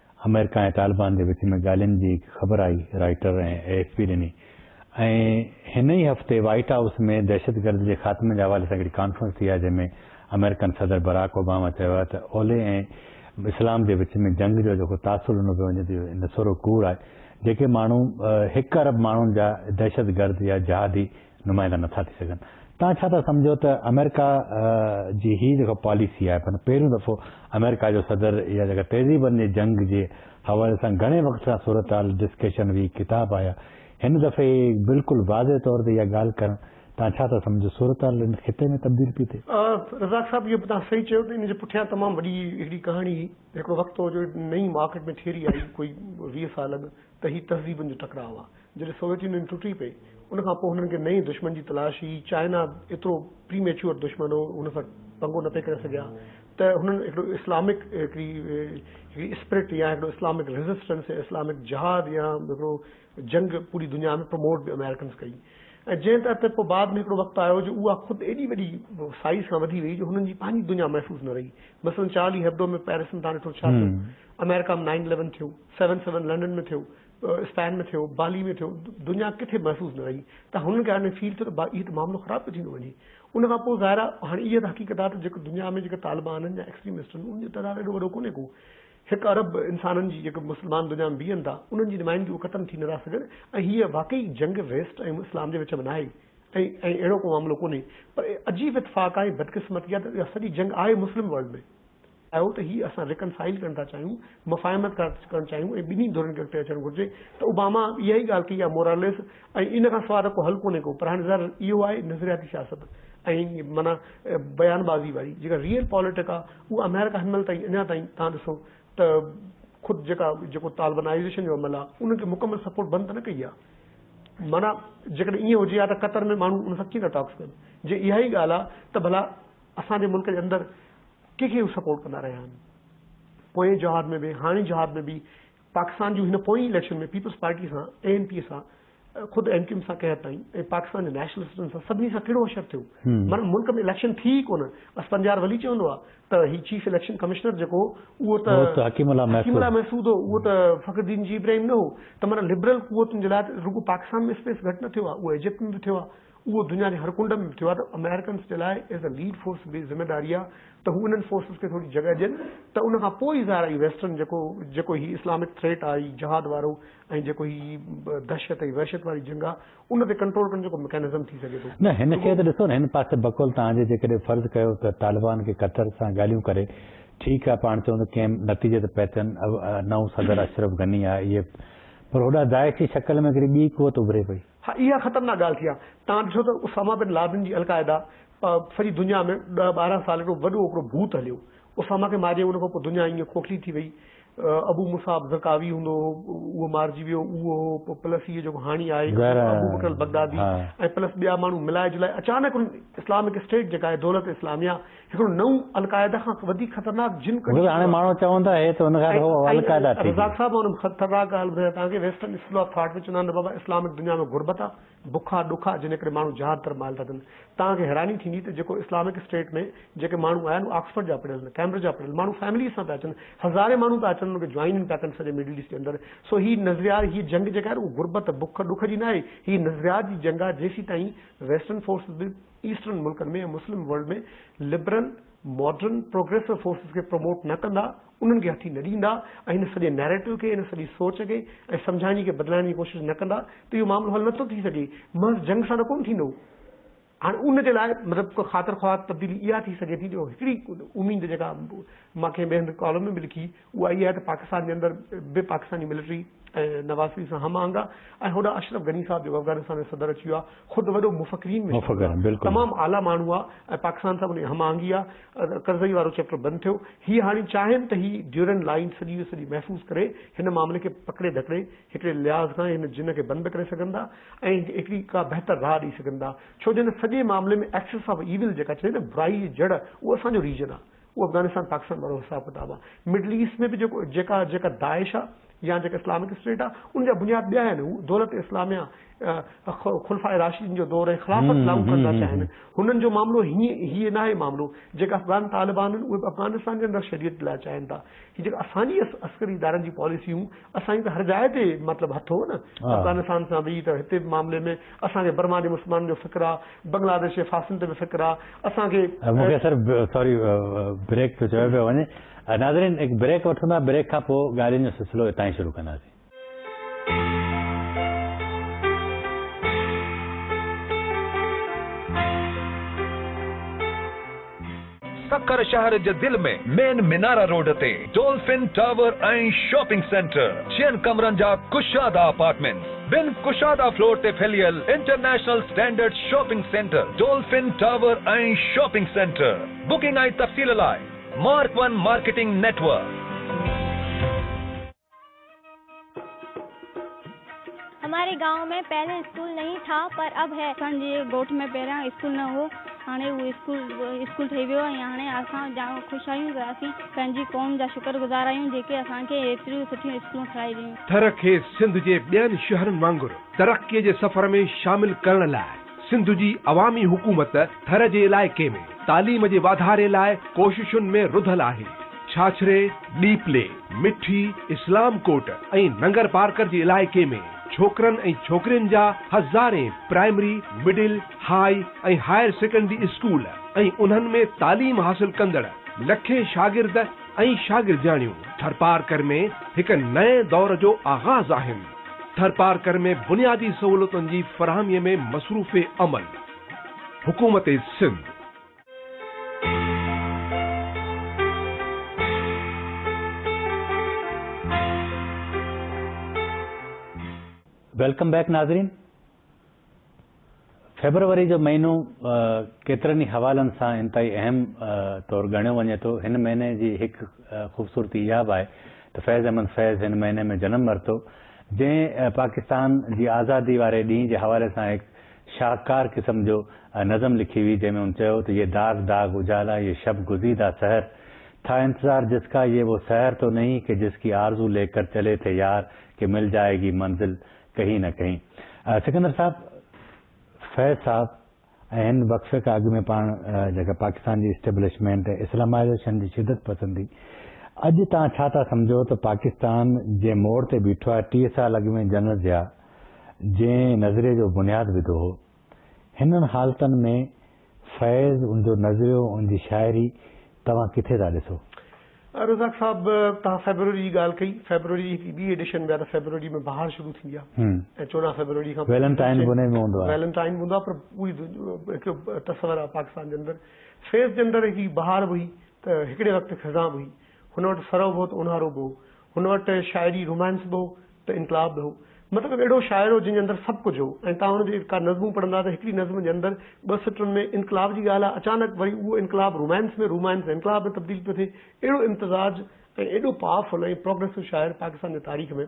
آمريڪا ۽ طالبان جي وچ ۾ ڳالهين جي هڪ خبر آئي رائٽر ۽ اي ايف پي ڏني ۽ هن ئي هفتي وائيٽ هائوس ۾ دهشت گرد جي خاتمي جي حوالي سان هڪڙي ڪانفرنس ٿي آهي جنهن ۾ آمريڪن صدر براڪ اوباما چيو آهي ته اولهه ۽ اسلام جي وچ ۾ جنگ جو جيڪو تاثر ڏنو پيو وڃي ته اهو نسورو ڪوڙ آهي جيڪي ماڻهو هڪ ارب ماڻهن جا دهشت گرد يا جهادي نمائندا نٿا ٿي سگهن. توهان ڇا ٿا سمجهو ته آمريڪا جي هي جيڪا پاليسي آهي معنيٰ پهريون دفعو آمريڪا جو صدر اها جيڪا تهذيبن جي جنگ جي حوالي سان گهڻي وقت کان صورتحال ڊسڪشن وي ڪتاب آيا هن دفعي بلڪل واضح طور تي اها ڳالهه ڪرڻ توهان ڇا ٿا سمجهو صورتحال ان خطي ۾ تبديل پي ٿئي. رزاق صاحب اهو به توهان صحيح چيو ته ان جي پٺيان تمام وڏي هڪڙي ڪهاڻي هئي هڪڙو وقت هو جو نئين مارڪيٽ ۾ ٺيري آئي ڪوئي ويهه سال اڳ. ته هي تهذيبن جو ٽڪراء آ. جڏهن سوويت يونين ٽٽي پئي، ان کان پوء هنن کي نئين دشمن جي تلاش هئي. چائنا ايترو پري ميچوئر دشمن هو، هن سان پنگو نه پئي ڪري سگهيا ته هنن هڪڙو اسلامڪ هڪڙي هڪڙي اسپرٽ يا هڪڙو اسلامڪ ريزسٽنس يا اسلامڪ جهاد يا هڪڙو جنگ پوري دنيا ۾ پروموٽ به امريڪنز ڪئي ۽ جنهن تحت پوء بعد ۾ هڪڙو وقت آيو جو اها خود ايڏي وڏي سائيز کان وڌي وئي جو هنن جي پنهنجي دنيا محفوظ نه رهي. مثلاً چارلي هيبڊو ۾ پيرس ۾ تان ڏٺو ڇا ٿيو، امريڪا ۾ نائن اليون ٿيو. سيون سيون لنڊن ۾ ٿيو، اسپين ۾ ٿيو، بالي ۾ ٿيو، دنيا ڪٿي محفوظ نه رهي ته هنن کي هاڻي فيل ٿيو ته اهو ته معاملو خراب پيو ٿيندو وڃي. ان کان پوء ظاهر آهي هاڻي اها ته حقيقت آهي ته جيڪو دنيا ۾ جيڪا طالبانن يا ايڪسٽريمسٽن انهن جو تعداد ايڏو وڏو ڪونهي ڪو هڪ ارب انسانن جي جيڪي مسلمان دنيا ۾ بيهن ٿا انهن جي نمائندگي اهي ختم ٿي نه ٿا سگهن ۽ هيء واقعي جنگ ويسٽ ۽ اسلام جي وچ ۾ ناهي ۽ اهڙو ڪو معاملو ڪونهي پر عجيب اتفاق آهي بدقسمتي آهي ته اها سڄي جنگ آهي مسلم ورلڊ ۾. آهيو ته هي اسان ريڪن سائيل ڪرڻ ٿا چاهيون، مفاهمت ٿا ڪرڻ چاهيون ۽ ٻنهي ڌرين کي اڳتي اچڻ گهرجي ته اوباما اها ئي ڳالهه ڪئي آهي موراليس ۽ ان کان سواء ته ڪو حل ڪونهي ڪو پر هاڻي ظاهر اهو آهي نظرياتي سياست ۽ معنيٰ بيان بازي واري جيڪا ريئل پاليٽڪ آهي اها آمريڪا هن مهل تائين اڃا تائين تهان ڏسو ته خود جيڪا جيڪو طالبنائيزيشن جو عمل آهي ان کي مڪمل سپورٽ بند ته نه ڪئي آهي معنيٰ جيڪڏهن ائين هجي ها ته قطر ۾ ماڻهو ان سان ڪيئن ٿا ٽاڪس ڪن جي اها ئي ڳالهه آهي ته ڀلا اسان جي ملڪ جي اندر ڪنهن کي به سپورٽ ڪندا رهيا آهن پوئين جهاد ۾ به هاڻي جهاد ۾ به پاڪستان جون هن پوئين اليڪشن ۾ پيپلز پارٽي سان اي اين پي سان خود ايم ڪيو ايم سان قحط تائين ۽ پاڪستان جي نيشنلسٽن سان سڀني سان ڪهڙو حشر ٿيو مگر ملڪ ۾ اليڪشن ٿي ئي ڪونه بس پنجار ولي چوندو آهي ته هي چيف اليڪشن ڪمشنر جيڪو اهو ته حڪيم الله محسود هو اهو ته فخردين جي ابراهيم نه هو ته مگر لبرل قوتن جي لاء رڳو پاڪستان ۾ اسپيس گهٽ نه ٿيو آهي اهو ايجپٽ ۾ به ٿيو آهي اهو دنيا جي هر ڪنڊ ۾ به ٿيو آهي ته آمريڪنس جي لاء ايز اي ليڊ فورس به ذميواري آهي ته هو انهن فورسز کي ٿوري جڳهه ڏين ته ان کان پوء ئي ظاهر آهي ويسٽرن جيڪو جيڪو هي اسلامڪ ٿريٽ آهي هي جهاد وارو ۽ جيڪو هي دهشت ۽ وحشت واري جنگ آهي ان تي ڪنٽرول ڪرڻ جيڪو مڪينزم ٿي سگهي ٿو. نه هن کي ته ڏسو نه هن پاسي بقول توهان جي جيڪڏهن فرض ڪيو ته طالبان کي قطر سان ڳالهيون ڪري ٺيڪ آهي پاڻ چون ته ڪنهن نتيجي تي پهتن نئون صدر اشرف غني آهي اهي پر هوڏانهن داعش جي شڪل ۾ هڪڙي ٻي قوت اڀري پئي ها اها خطرناڪ ڳالهه ٿي آهي. توهان ڏٺو ته اسامه بن لادن جي القاعده سڄي دنيا ۾ ڏهه ٻارهن سال هڪڙو وڏو هڪڙو ڀوت هليو. اسامه کي مارجي ان کانپوء دنيا ائين کوکلي ٿي وئي. ابو مصعب زرقاوي هوندو هو اهو مارجي ويو اهو هو پوء پلس هيء جيڪو هاڻي آهي ابوبڪر البغدادي ۽ پلس ٻيا ماڻهو ملائي جلائي اچانڪ انهن اسلامڪ اسٽيٽ جيڪا آهي دولت اسلاميه هڪڙو نئون القاعده کان وڌيڪ خطرناڪ جن ڪڍي ڇڏيو آهي. ماڻهو چون ٿا هي ته ان کان اهو القاعده ٿي رزاق صاحب مان ان خطرناڪ ڳالهه ٻڌايان توهان کي ويسٽرن اسڪول آف ٿاٽ ۾ چوندا آهن ته بابا اسلامڪ دنيا ۾ غربت آ بک آ ڏک آ جنهن ڪري ماڻهو جهاد طرف مائل ٿا ٿين توهان کي حيراني ٿيندي ته جيڪو اسلامڪ اسٽيٽ ۾ جيڪي ماڻهو آيا آهن اهي آڪسفرڊ جا پڙهيل آهن ڪيمبرج جا پڙهيل ماڻهو فيمليز سان پيا اچن هزارين ماڻهو پيا اچن انهن کي جوائن پيا ڪن سڄي مڊل ايسٽ جي اندر سو هي نظريات هي جنگ جيڪا آهي نه اهو غربت بک ڏک جي نه آهي هي نظريات جي جنگ آ جيسيتائين ويسٽرن فورسز به ايسٽرن ملڪن ۾ ۽ Muslim world ۾ liberal, modern, progressive forces کي پروموٽ نه ڪندا، انهن کي هٿي نه ڏيندا ۽ هن سڄي نئريٽو کي، هن سڄي سوچ کي ۽ سمجهائڻ جي کي بدلائڻ جي ڪوشش نه ڪندا ته اهو معاملو حل نه ٿو ٿي سگهي. محض جنگ سان ته ڪونه ٿيندو. هاڻي ان جي لاء مطلب خاطر خواهه تبديلي اها ٿي سگهي ٿي جو هڪڙي اميد جيڪا مان ڪنهن ٻئي هنڌ ڪالم ۾ به لکي، اها اهي آهي ته پاڪستان جي اندر به پاڪستاني ملٽري ۽ نواز شريف سان هم آهنگ آ ۽ هوڏانهن اشرف غني صاحب جيڪو افغانستان جو صدر اچي ويو آ خود وڏو مفڪرين ۾ شامل آ تمام اعليٰ ماڻهو آ ۽ پاڪستان سان به ان جي هم آهنگي آ ڪرزئي وارو چئپٽر بند ٿيو هي هاڻي چاهين ته هي ڊيورنڊ لائين سڄي جو سڄي محفوظ ڪري هن معاملي کي پڪڙي ڌڪڙي هڪڙي لحاظ کان هن جن کي بند به ڪري سگهن ٿا ۽ هڪڙي ڪا بهتر راهه ڏئي سگهن ٿا ڇو جو هن سڄي معاملي ۾ ايڪسس آف ايول جيڪا چئبي نه برائي جي جڙ اهو اسان جو ريجن آ اهو افغانستان پاڪستان وارو حساب ڪتاب آهي مڊل ايسٽ ۾ به جيڪو جيڪا جيڪا داعش آهي يا جيڪا اسلامڪ اسٽيٽ آهي ان جا بنياد ٻيا آهن هو دولت اسلاميه خلفاء راشدين جو دور ۽ خلافت لاڳو ڪرڻ ٿا چاهين هنن جو معاملو هي هي ناهي معاملو جيڪا افغان طالبان آهن اهي افغانستان جي اندر شريعت لاء چاهين ٿا هي جيڪا اسان جي عسڪري ادارن جي پاليسيون اسان جي ته هر جاء تي مطلب هٿ هو نه افغانستان سان به ته هتي به معاملي ۾ اسان کي برما جي مسلمانن جو فڪر آهي بنگلاديش جي ڦاسين تي به فڪر آ اسان کي. مون کي سر ساري بريڪ ٿو چيو پيو وڃي ناظرين هڪ بريڪ وٺون ٿا بريڪ کان پوء ڳالهين جو سلسلو اتان ئي شروع ڪنداسين. سکر شهر جي دل ۾ مين منارا روڊ تي ڊولفن ٽاور ۽ شاپنگ سينٽر جيئن ڪمرن جا ڪشادا اپارٽمينٽس، ٻن ڪشادا فلور تي ڦهليل international standard shopping centre dolphin tower ۽ shopping centre booking ۽ تفصيل لاء mark one marketing network. هماري گاؤن مين پهلي اسڪول نهين ٿا پر اب هي. اسان جي ڳوٺ ۾ پهريان اسڪول نه هو هاڻي اهو اسڪول اسڪول ٺهي ويو ۽ هاڻي اسان جام خوش آهيون ته اسين پنهنجي قوم جا شڪر گذار آهيون جيڪي اسان کي ايتريون سٺيون اسڪولون ٺهرائي ڏنيون. ٿر کي سنڌ جي ٻين شهرن وانگر ترقي جي سفر ۾ شامل ڪرڻ لاء سنڌ جي عوامي حڪومت ٿر جي علائقي ۾ تعليم جي واڌاري لاء ڪوششن ۾ رڌل آهي، ڇاڇري، ڏيپلي، مٺي، اسلام ڪوٽ ۽ ننگرپارڪر جي علائقي ۾ ڇوڪرن ۽ ڇوڪرين جا هزارين primary, middle, high ۽ higher secondary school ۽ انهن ۾ تعليم حاصل ڪندڙ لکين شاگرد ۽ شاگردياڻيون ٿرپارڪر ۾ هڪ نئين دور جو آغاز آهن. ٿرپارڪر ۾ بنيادي سهولتن جي فراهمي ۾ مصروف عمل، حڪومت سنڌ. ويلڪم بيڪ ناظرين. فيبروري جو مهينو ڪيترن ئي حوالن سان انتهائي اهم طور ڳڻيو وڃي ٿو. هن مهيني جي هڪ خوبصورتي اها به آهي ته فيض احمد فيض هن مهيني ۾ جنم ورتو، جنهن پاڪستان جي آزادي واري ڏينهن جي حوالي سان هڪ شاهڪار قسم جو نظم لکي هئي، جنهن ۾ هن چيو ته يي داغ داغ اجالا يي شب گزيده سحر ٿا انتظار جس ڪا يي وو سحر تو نهين ڪي جس ڪي آرزو ليڪر چلي ٿي يار ڪي مل جائيگي منزل ڪهي نه ڪهي سڪندر صاحب، فيض صاحب ۽ هن وقفي کان اڳ ۾ پاڻ جيڪا پاڪستان جي اسٽيبلشمينٽ ۽ اسلامائيزيشن جي شدت پسندي اڄ توهان ڇا ٿا سمجهو ته پاڪستان جنهن موڙ تي بيٺو آهي ٽيهه سال اڳ ۾ جنرل ضياء جنهن نظريي جو بنياد وڌو هو هنن حالتن ۾ فيض، ان جو نظريو، ان جي شاعري توهان ڪٿي ٿا ڏسو؟ رزاق صاحب، توهان فيبروري جي ڳالهه ڪئي، فيبروري جي هڪڙي ٻي ايڊيشن ۾ آهي ته فيبروري ۾ بهار شروع ٿيندي آهي ۽ چوڏهن فيبروري کان پوء ويلنٽائن به انهي ۾ هوندو آهي. ويلنٽائن به هوندو آهي پر پوري هڪ تصور آهي پاڪستان جي اندر فيض جي اندر هڪڙي بهار به هئي ته هڪڙي وقت خزان به هئي، هن وٽ سرو به هو ته اونهارو به هو، هن وٽ شاعري رومانس به هو ته انقلاب به هو. مطلب اهڙو شاعر هو جنهن جي اندر سڀ ڪجهه هو ۽ توهان هن جي ڪا نظمون پڙهندا ته هڪڙي نظم جي اندر ٻه سٽرن ۾ انقلاب جي ڳالهه آهي اچانڪ وري اهو انقلاب رومانس ۾ رومانس انقلاب ۾ تبديل پيو ٿئي اهڙو امتزاج ۽ ايڏو پاور فل ۽ پروگريسو شاعر پاڪستان جي تاريخ ۾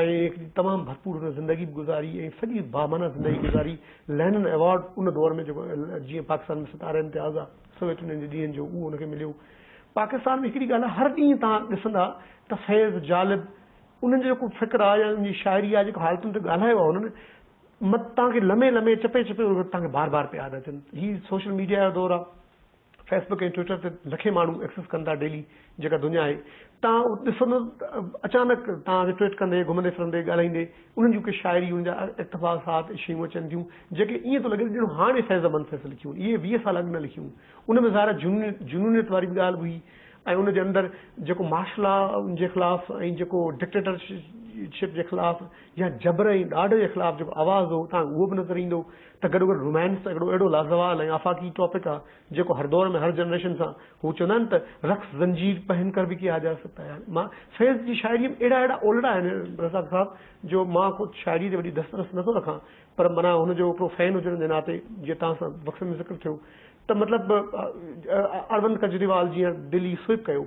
۽ هڪ تمام ڀرپور هن زندگي به گذاري ۽ سڄي بامعنيٰ زندگي گذاري لينن ايوارڊ ان دور ۾ جيڪو جيئن پاڪستان ۾ ستارا امتياز آ سويٽن جي ڏينهن جو اهو ان کي مليو پاڪستان ۾ هڪڙي ڳالهه آ هر ڏينهن توهان ڏسندا ته فيض جالب انهن جو جيڪو فڪر آ يا ان جي شاعري آ جيڪو حالتن تي ڳالهايو آ هنن مت توهان کي لمحي لمحي چپي چپي توهان کي بار بار پيا ادا ٿين هي سوشل ميڊيا جو دور آ فيسبڪ ۽ ٽوئيٽر تي لکين ماڻهو ايڪسس ڪن ٿا ڊيلي جيڪا دنيا آهي تان ڏسندو اچانڪ تان کي ٽوئيٽ ڪندي گهمندي ڦرندي ڳالهائيندي انهن جون ڪي شاعريون ان جا اقتباسات ۽ شيون اچن ٿيون جيڪي ايئن ٿو لڳي ته ڄڻ هاڻي فيض احمد فيصل لکيون اهي ويهه سال اڳ نه لکيون ان ۾ ظاهر جنونيت واري به ڳالهه به هئي ۽ ان جي اندر جيڪو مارشل لا جي خلاف ۽ جيڪو ڊڪٽيٽرشپ جي خلاف يا جبر ۽ ڏاڍ جي خلاف جيڪو آواز هو تان اهو به نظر ايندو ته گڏو گڏ رومانس هڪڙو اهڙو لازوال ۽ آفاقي ٽاپڪ آ جيڪو هر دور ۾ هر جنريشن سان هو چوندا آهن ته رقص زنجير پهن ڪر ڀي ڪي آ جا سڪتا هي هاڻي مان فيض جي شاعري ۾ اهڙا اهڙا اولڙا آهن رزاق صاحب جو مان خود شاعري تي وڏي دست رس نٿو رکان پر معنيٰ هن جو هڪڙو فين هجڻ جي ناتي جيئن توهان سان وقفي ۾ ذڪر ٿيو ته مطلب اروند ڪجريوال جيئن دل ئي سوئپ ڪيو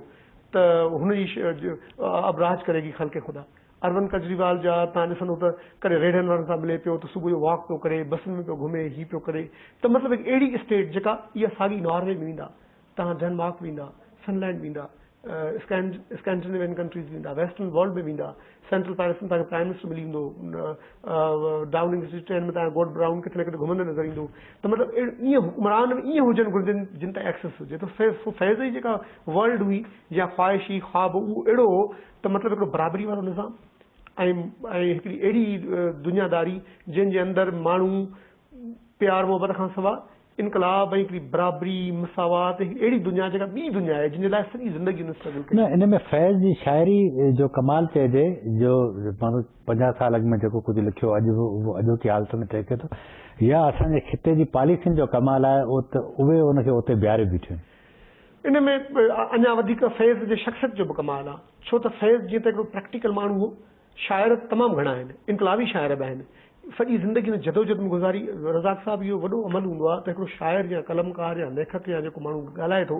ته هن جي ابراج ڪريگي خلق خدا اروند ڪجريوال جا تان ڏسندو ته ڪڏهن ريڙهن وارن سان ملي پيو ته صبح جو واڪ پيو ڪري بسن ۾ پيو گهمي هي پيو ڪري ته مطلب هڪ اهڙي اسٽيٽ جيڪا اها ساڳي ناروي ۾ ويندا تهان ڊينمارڪ ويندا فن لينڊ ويندا اسڪينڊينيوين ڪنٽريز ويندا ويسٽرن ورلڊ ۾ ويندا سينٽرل پيرس ۾ تهان کي پرائم منسٽر ملي ويندو ڊاوننگ اسٽريٽ ٽرين ۾ تهان گوڊ براؤن ڪٿي نه ڪٿي گهمندو نظر ايندو ته مطلب ايئن حڪمران به ايئن هجن گهرجن جن تان ايڪسس هجي ته فيض جي جيڪا ورلڊ هئي يا خواهش هئي خواب اهو اهڙو هو ته مطلب هڪڙو برابري وارو نظام ۽ ۽ هڪڙي اهڙي دنيا داري جنهن جي اندر ماڻهو پيار محبت کان سوا انقلاب ۽ هڪڙي برابري مساوات ۽ هڪڙي اهڙي دنيا جيڪا ٻي دنيا آهي جنهن جي لاء سڄي زندگي هن اسٽرگل ڪئي. نه ان ۾ فيض جي شاعري جو ڪمال چئجي جو مانو پنجاهه سال اڳ ۾ جيڪو ڪجهه لکيو اڄ به اهو اڄوڪي حالت ۾ ٽهڪي ٿو يا اسان جي خطي جي پاليسين جو ڪمال آهي ات اهي ان کي اتي بيهاري بيٺيون آهن. ان ۾ اڃا وڌيڪ فيض جي شخصيت جو به ڪمال آ، ڇو ته فيض جيئن ته هڪڙو پريڪٽيڪل ماڻهو هو، شاعر تمام گهڻا آهن، انقلابي شاعر به آهن، سڄي زندگي ان جدوجھد ۾ گذاري، رزاق صاحب اهو وڏو عمل هوندو آ ته هڪڙو شاعر يا قلمڪار يا ليکڪ يا جيڪو ماڻهو ڳالهائي ٿو،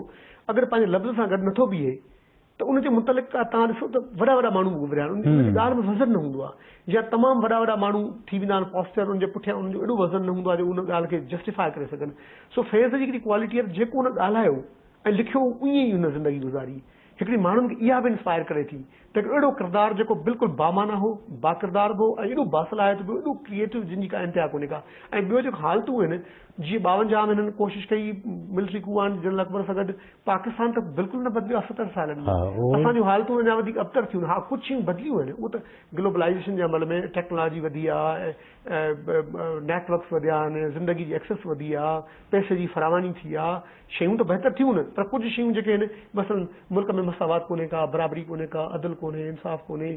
اگر پنهنجي لفظ سان گڏ نٿو بيهي، ته ان جي متعلق توهان ڏسو ته وڏا وڏا ماڻهو به گهريا آهن، ان جي ڳالهه ۾ وزن نه هوندو آهي، جيئن تمام وڏا وڏا ماڻهو ٿي ويندا آهن پاسٽر انهن جي پٺيان انهن جو ايڏو وزن نه هوندو آهي جو ان ڳالهه کي جسٽيفاء ڪري سگهن، سو فيض جي هڪڙي ڪوالٽي آهي ته جيڪو هن ڳالهايو ۽ لکيو هو ائين ئي هن زندگي گذاري، هڪڙي ماڻهن کي اها به انسپائر ڪري ٿي ته هڪڙو اهڙو ڪردار جيڪو بلڪل بامعنيٰ هو، باڪردار به هو ۽ ايڏو باصلاحيت به ايڏو ڪريئيٽو جنهن جي ڪا انتها ڪونهي ڪا ۽ ٻيو جيڪو حالتون آهن جيئن ٻاونجاهه ۾ هنن ڪوشش ڪئي ملٽري ڪو آهن جنرل اڪبر سان گڏ، پاڪستان ته بلڪل نه بدليو آهي ستر سالن ۾ اسان جون حالتون اڃا وڌيڪ ابتر ٿيون ها ڪجهه شيون بدليون آهن اهو ته گلوبلائيزيشن جي عمل ۾ ٽيڪنالاجي وڌي آهي نيٽ ورڪس وڌيا آهن زندگي جي ايڪسيس وڌي آهي پئسي جي فراواني ٿي آهي شيون ته بهتر ٿيون آهن پر ڪجهه شيون جيڪي آهن مثلا ملڪ ۾ مساوات ڪونهي ڪا برابري ڪونهي ڪا عدل ڪونهي انصاف ڪونهي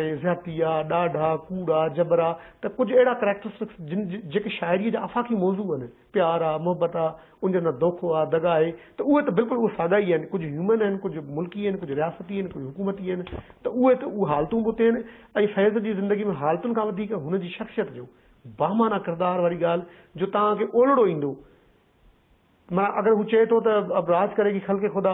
۽ زيادتي آهي ڏاڍ آهي ڪوڙ آهي جبر آهي ته ڪجهه اهڙا ڪريڪٽرسٽڪس جن جيڪي شاعري جا آفاقي موضوع آهن پيار آ، محبت آ، ان جي اندر دوکو آ، دڳا آهي ته اهي ته بلڪل اهي ساڳا ئي آهن، ڪجهه هيومن آهن، ڪجهه ملڪي آهن، ڪجهه رياستي آهن، ڪجهه حڪومتي آهن ته اهي ته اهي حالتون به اتي آهن ۽ فيض جي زندگي ۾ حالتن کان وڌيڪ هن جي شخصيت جو بامعنيٰ ڪردار واري ڳالهه جو توهان کي اولڙو ايندو معنيٰ اگر هو چئي ٿو ته اب راج ڪريگي خلق خدا.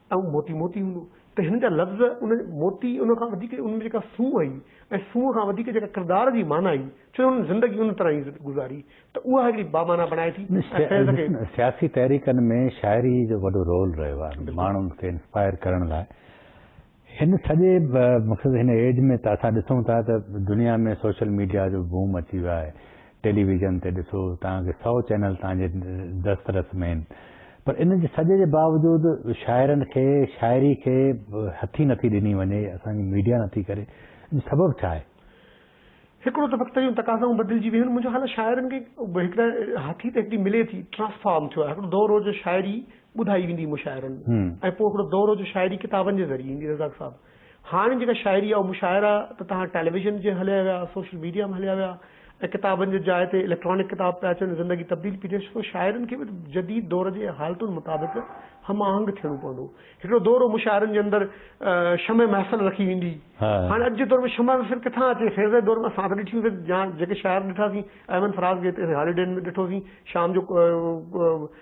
ائين موتي موتي هوندو ته هن جا لفظ ان موتي ان کان وڌيڪ ان ۾ جيڪا سونهن هئي ۽ سونهن کان وڌيڪ جيڪا ڪردار جي معنيٰ هئي ڇو جو هنن زندگي ان طرح جي گذاري ته اها هڪڙي بامعنيٰ بڻائي ٿي ۽ فيض کي سياسي تحريڪن ۾ شاعري جو وڏو رول رهيو آهي ماڻهن کي انسپائر ڪرڻ لاء هن سڄي مقصد هن ايج ۾ ته اسان ڏسون ٿا ته دنيا ۾ سوشل ميڊيا جو بوم اچي ويو آهي ٽيلي ويزن تي ڏسو، توهان کي سؤ چينل توهان جي دسترس ۾ آهن، پر ان جي سڄي جي باوجود شاعرن کي شاعري کي هٿي نٿي ڏني وڃي، اسان جي ميڊيا نٿي ڪري، ان جو سبب ڇا آهي؟ هڪڙو ته وقت جون تقاضائون بدلجي ويون، منهنجو خيال آهي شاعرن کي هڪڙا هٿي ته هڪڙي ملي ٿي، ٽرانسفارم ٿيو آهي، هڪڙو دور هو جو شاعري ٻڌائي ويندي هئي مشاعرن ۾ ۽ پوء هڪڙو دور هو جو شاعري ڪتابن جي ذريعي ايندي رزاق صاحب، هاڻ جيڪا شاعري آهي اهو مشاعرا ته تهان ٽيليويزن جي هليا ويا، سوشل ميڊيا ۾ هليا ويا ۽ ڪتابن جي جاء تي اليڪٽرانڪ ڪتاب پيا اچن، زندگي تبديل پي ٿئي ڇو ته شاعرن کي به جديد دور جي حالتن مطابق هم آهنگ ٿيڻو پوندو. هڪڙو دور هو مشاعرن جي اندر شمع محفل رکي ويندي هئي، هاڻ اڄ جي دور ۾ شمع محفل ڪٿان اچي، خير سائين دور ۾ اسان ته ڏٺيون سين جيڪي شاعر ڏٺاسين احمد فراز گيتي هاليڊين ۾ ڏٺوسين شام جو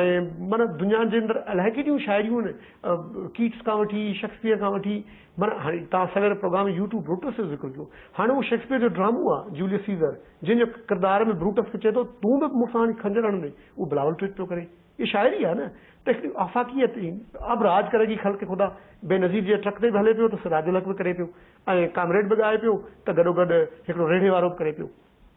ائين معنيٰ دنيا جي اندر الائي ڪيڏيون شاعريون آهن ڪيٽس کان وٺي شيڪسپيئر کان وٺي معنيٰ هاڻي تان سوير پروگرام ۾ يوٽو بروٽس جو ذڪر ڪيو هاڻي اهو شيڪسپيئر جو ڊرامو آهي جوليس سيزر جنهن جو ڪردار ۾ بروٽس کي چئي ٿو تون به مون سان هاڻي خنجر هڻندين اهو بلاول ٽويٽ پيو ڪري اهي شاعري آهي نه ته هڪڙي آفاقيت اب راج ڪري گي خلق خدا بينظير جي ٽرڪ تي به هلي پيو ته سراج الحق به ڪري پيو ۽ ڪامريڊ به ڳائي پيو ته گڏو گڏ هڪڙو ريڙهي وارو به ڪري پيو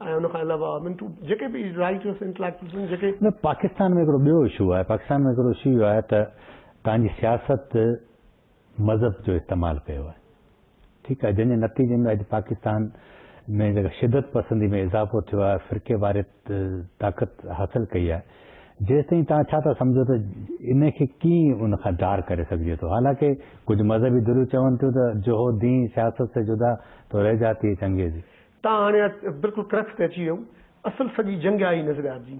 ۽ ان کان علاوه آء مين ٽو جيڪي به رائيٽ يوز انٽليڪچوئلز آهن جيڪي. نه پاڪستان ۾ هڪڙو ٻيو اشو آهي پاڪستان ۾ هڪڙو اشو اهو آهي ته تان جي سياست مذهب جو استعمال ڪيو آهي ٺيڪ آهي جنهن جي نتيجي ۾ اڄ پاڪستان ۾ جيڪا شدت پسندي ۾ اضافو ٿيو آهي فرقي واريت طاقت حاصل ڪئي آهي جيستائين تان ڇا ٿا سمجهو ته ان کي ڪيئن ان کان ڌار ڪري سگهجي ٿو حالانڪه ڪجهه مذهبي ڌريون چون ٿيون ته جهو دين سياست سي جدا تو رهجاتي چنگيزي. تان هاڻي بلڪل ڪرڪس تي اچي ويئون. اصل سڄي جنگ آئي نظر آبجي.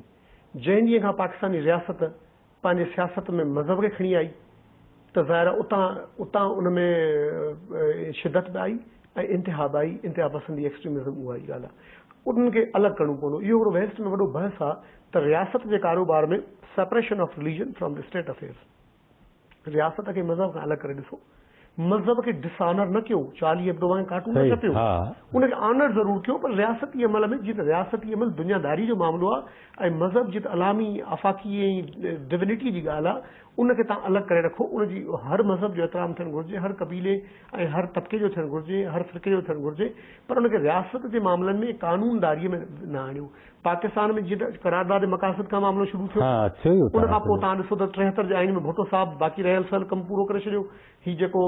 جنهن ڏينهن کان پاڪستاني رياست پنهنجي سياست ۾ مذهب کي کڻي آئي ته ظاهر آ اتان اتان ان ۾ شدت به آئي ۽ انتها به آئي. انتها پسندي Extremism اها ئي ڳالهه آ. انهن کي الڳ ڪرڻو پوندو. اهو هڪڙو ويسٽ ۾ وڏو بحث آ ته رياست جي ڪاروبار ۾ Separation of Religion from the State Affairs. رياست کي مذهب کان الڳ ڪري ڏسو. مذهب کي ڊس آنر نه ڪيو، چارلي ايبڊو وانگي ڪارٽون نه ڇپيو، ان کي آنر ضرور ڪيو پر رياستي عمل ۾ جيئن ته رياستي عمل دنيا داري جو معاملو آهي ۽ مذهب جيئن ته علامي، آفاقي ۽ ڊوينٽي جي ڳالهه آهي ان کي تان الڳ ڪري رکو ان جي هر مذهب جو احترام ٿيڻ گهرجي، هر قبيلي ۽ هر طبقي جو ٿيڻ گهرجي، هر فرقي جو ٿيڻ گهرجي پر ان کي رياست جي معاملن ۾ ۽ قانون داري ۾ نه آڻيو. پاڪستان ۾ جيئن قرارداد مقاصد کان معاملو شروع ٿيو ان کان پوء توهان ڏسو ته ٽيهتر جي آئين ۾ ڀٽو صاحب باقي رهيل سهل ڪم پورو ڪري ڇڏيو هي جيڪو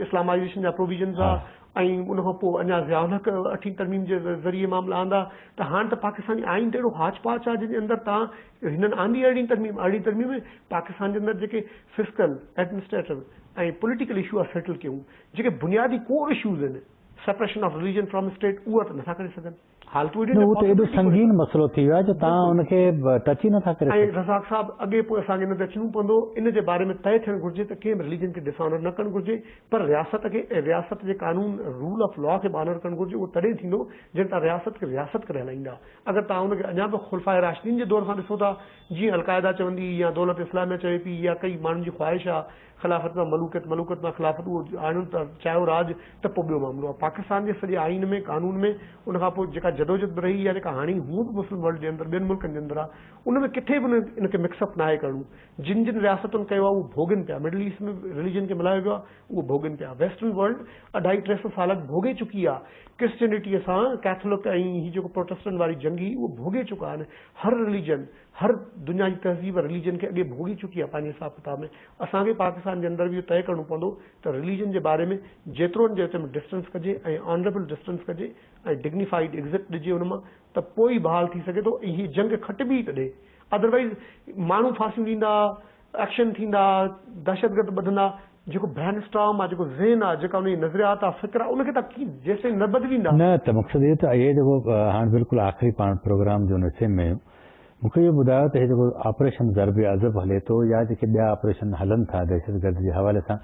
اسلامائيزيشن جا پروويزنز هئا ۽ ان کان پوء اڃا ضياء الحق اٺين ترميم جي ذريعي معاملا آندا ته هاڻ ته پاڪستاني آئين ته اهڙو هاچ پاچ آهي جنهن جي اندر توهان هنن آندي ارڙهين ترميم ارڙهين ترميم ۾ پاڪستان جي اندر جيڪي فسڪل ايڊمنسٽريٽو ۽ پوليٽيڪل اشو آهي سيٽل ڪيون جيڪي بنيادي ڪور اشوز آهن separation of religion from state اهو ته نٿا ڪري سگهن. نه هو ته ايڏو سنگين مسئلو ٿي ويو آهي جو توهان ان کي ٽچ ئي نٿا ڪري سگهو. رزاق صاحب اڳي پوء اسان کي ان تي اچڻو پوندو ان جي باري ۾ طئي ٿيڻ گهرجي ته ڪنهن به رليجن کي ڊس آنر نه ڪرڻ گهرجي پر رياست کي ۽ رياست جي قانون رول آف لا کي به آنر ڪرڻ گهرجي اهو تڏهن ٿيندو جڏهن توهان رياست کي رياست ڪري هلائيندا اگر توهان ان کي اڃا به خلفاء راشدين جي دور سان ڏسو ٿا جيئن القاعده چوندي يا دولت اسلاميه چوي پي يا ڪئي ماڻهن جي خواهش آهي خلافت مان ملوڪيت، ملوڪت مان خلافت اهو آڻڻ ته چاهيو راڄ ته پوء ٻيو معاملو آهي. پاڪستان جي سڄي آئين ۾ قانون ۾ ان کان پوء جيڪا جدوجھد به رهي يا جيڪا هاڻي هونء به مسلم ورلڊ جي اندر ٻين ملڪن جي اندر آهي ان ۾ ڪٿي به ان کي مڪس اپ ناهي ڪرڻو. جن جن رياستن ڪيو آهي اهو ڀوڳين پيا. مڊل ايسٽ ۾ رليجن کي ملهايو ويو آهي اهو ڀوڳين پيا. ويسٽرن ورلڊ اڍائي ٽي سئو سال اڳ ڀوڳي چڪي آهي. ڪرسچينٽيء سان ڪيٿولڪ ۽ هي جيڪو پروٽسٽنٽ واري جنگ هئي اهو ڀوڳي چڪا آهن. هر رليجن هر دنيا جي تهذيب رليجن کي اڳي ڀوڳي چڪي آهي پنهنجي حساب ڪتاب ۾، اسان کي پاڪستان جي اندر به اهو طئي ڪرڻو پوندو ته رليجن جي باري ۾ جيترو ان جي وچ ۾ ڊسٽنس ڪجي ۽ آنريبل ڊسٽنس ڪجي ۽ ڊگنيفائيڊ ايگزٽ ڏجي ان مان ته پوء ئي بحال ٿي سگهي ٿو ۽ هي جنگ کٽبي ئي تڏهن ادروائيز ماڻهو ڦاسيون ڏيندا ايڪشن ٿيندا، دهشتگرد ٻڌندا، جيڪو برين اسٽارم آ، جيڪو ذهن آ، جيڪا انهن جي نظريات آ، فڪر آ، ان کي توهان ڪيئن جيستائين نه بدليندا. نه ته مقصد اهو ته اهي جيڪو هاڻ بلڪل آخري پاڻ پروگرام جون نسيم ۾ آهيون مون کي اهو ٻڌايو ته هي جيڪو آپريشن ضرب عضب هلي ٿو يا جيڪي ٻيا آپريشن هلن ٿا دهشت گرد جي حوالي سان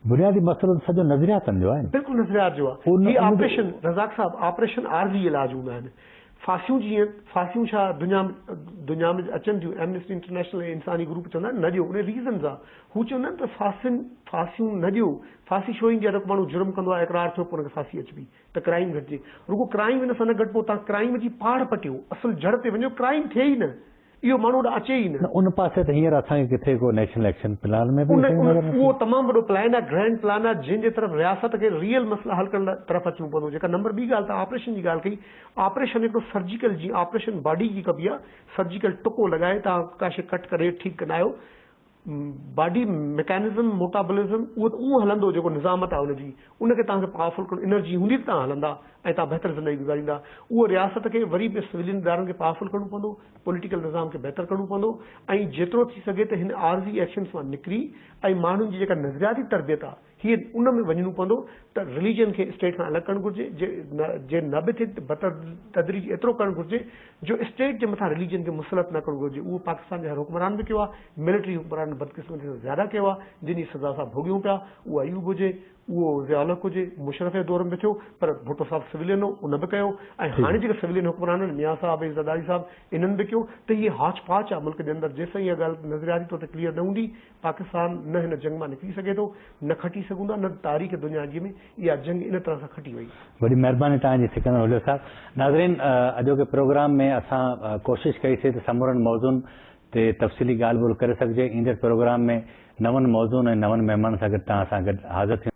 بنيادي مسئلو ته سڄو نظرياتن جو آهي نه. بلڪل نظريات جو آ. هي آپريشن رزاق صاحب آپريشن عارضي علاج هوندا آهن. ڦاسيون جيئن ڦاسيون ڇا دنيا م دنيا م اچن ٿيون ايمنسٽي انٽرنيشنل ۽ انساني گروپ چوندا آهن نه ڏيو انهي ريزن سان هو چوندا آهن ته ڦاسين ڦاسيون نه ڏيو ڦاسي ڇو ايندي آهي ته ڪو ماڻهو جرم ڪندو آهي اقرار ٿيو پوء ان کي ڦاسي اچبي ته ڪرائيم گهٽجي رڳو ڪرائيم ان سان نه گهٽبو تان ڪرائيم جي پاڙ پٽيو اصل جڙ تي وڃو ڪرائيم ٿئي ئي نه اهو ماڻهو هوڏانهن اچي ئي نه. نه ان پاسي ته هينئر اسان کي ڪٿي ڪو نيشنل ايڪشن پلان ۾ به ان نظر نٿي اهو اچي. تمام وڏو پلان آهي، گرينڊ پلان آهي، جنهن جي طرف رياست کي ريئل مسئلا حل ڪرڻ لاء طرف اچڻو پوندو. جيڪا نمبر ٻي ڳالهه توهان آپريشن جي ڳالهه ڪئي، آپريشن هڪڙو سرجيڪل جيئن آپريشن باڊي جي ڪبي آهي، سرجيڪل ٽڪو لڳائي توهان ڪاشي ڪٽ ڪري ٺيڪ ڪندا آهيو، باڊي ميڪانزم، موٽابولزم، اهو ته اهو هلندو جيڪو نظامت آهي ان جي، ان کي توهان کي پاورفل ڪرڻو، انرجي هوندي ته توهان هلندا ۽ توهان بهتر زندگي گذاريندا. اهو رياست کي وري به سويلين ادارن کي پاورفل ڪرڻو پوندو، پوليٽيڪل نظام کي بهتر ڪرڻو پوندو ۽ جيترو ٿي سگهي ته هن عارضي ايڪشنز مان نڪري ۽ ماڻهن جي جيڪا نظرياتي تربيت آهي، هي ان ۾ وڃڻو پوندو ته رليجن کي اسٽيٽ کان الڳ ڪرڻ گهرجي جي نه به ٿي ته بتدريج ايترو ڪرڻ گهرجي جو اسٽيٽ جي مٿان رليجن کي مسلط نه ڪرڻو گهرجي اهو پاڪستان جي هر حڪمران به ڪيو آهي ملٽري حڪمرانن بدقسمتي سان زياده ڪيو آهي جن جي سزا اسان ڀوڳيون پيا اهو ايوب هجي اهو ضياء الحق هجي مشرف جي دور ۾ به ٿيو پر ڀٽو صاحب سولين هو ان به ڪيو ۽ هاڻي جيڪي سولين حڪمرانن ميان صاحب ۽ زرداري صاحب انهن به ڪيو ته هي هاچ پاچ آهي ملڪ جي اندر جيسين اها ڳالهه نظرياتي طور تي ڪليئر نه هوندي پاڪستان نه هن جنگ مان نڪري سگهي ٿو، نه کٽي سگهون ٿا، نه تاريخ دنيا جي ۾ اها جنگ ان طرح سان کٽي وئي. وڏي مهرباني توهان جي سڪندر هوجو صاحب. ناظرين اڄوڪي پروگرام ۾ اسان ڪوشش ڪئي سي ته سمورن موضوعن تي تفصيلي ڳالهه ٻولهه ڪري سگهجي. ايندڙ پروگرام ۾ نون موضوعن ۽ نون مهمانن سان گڏ توهان سان گڏ حاضر ٿيون.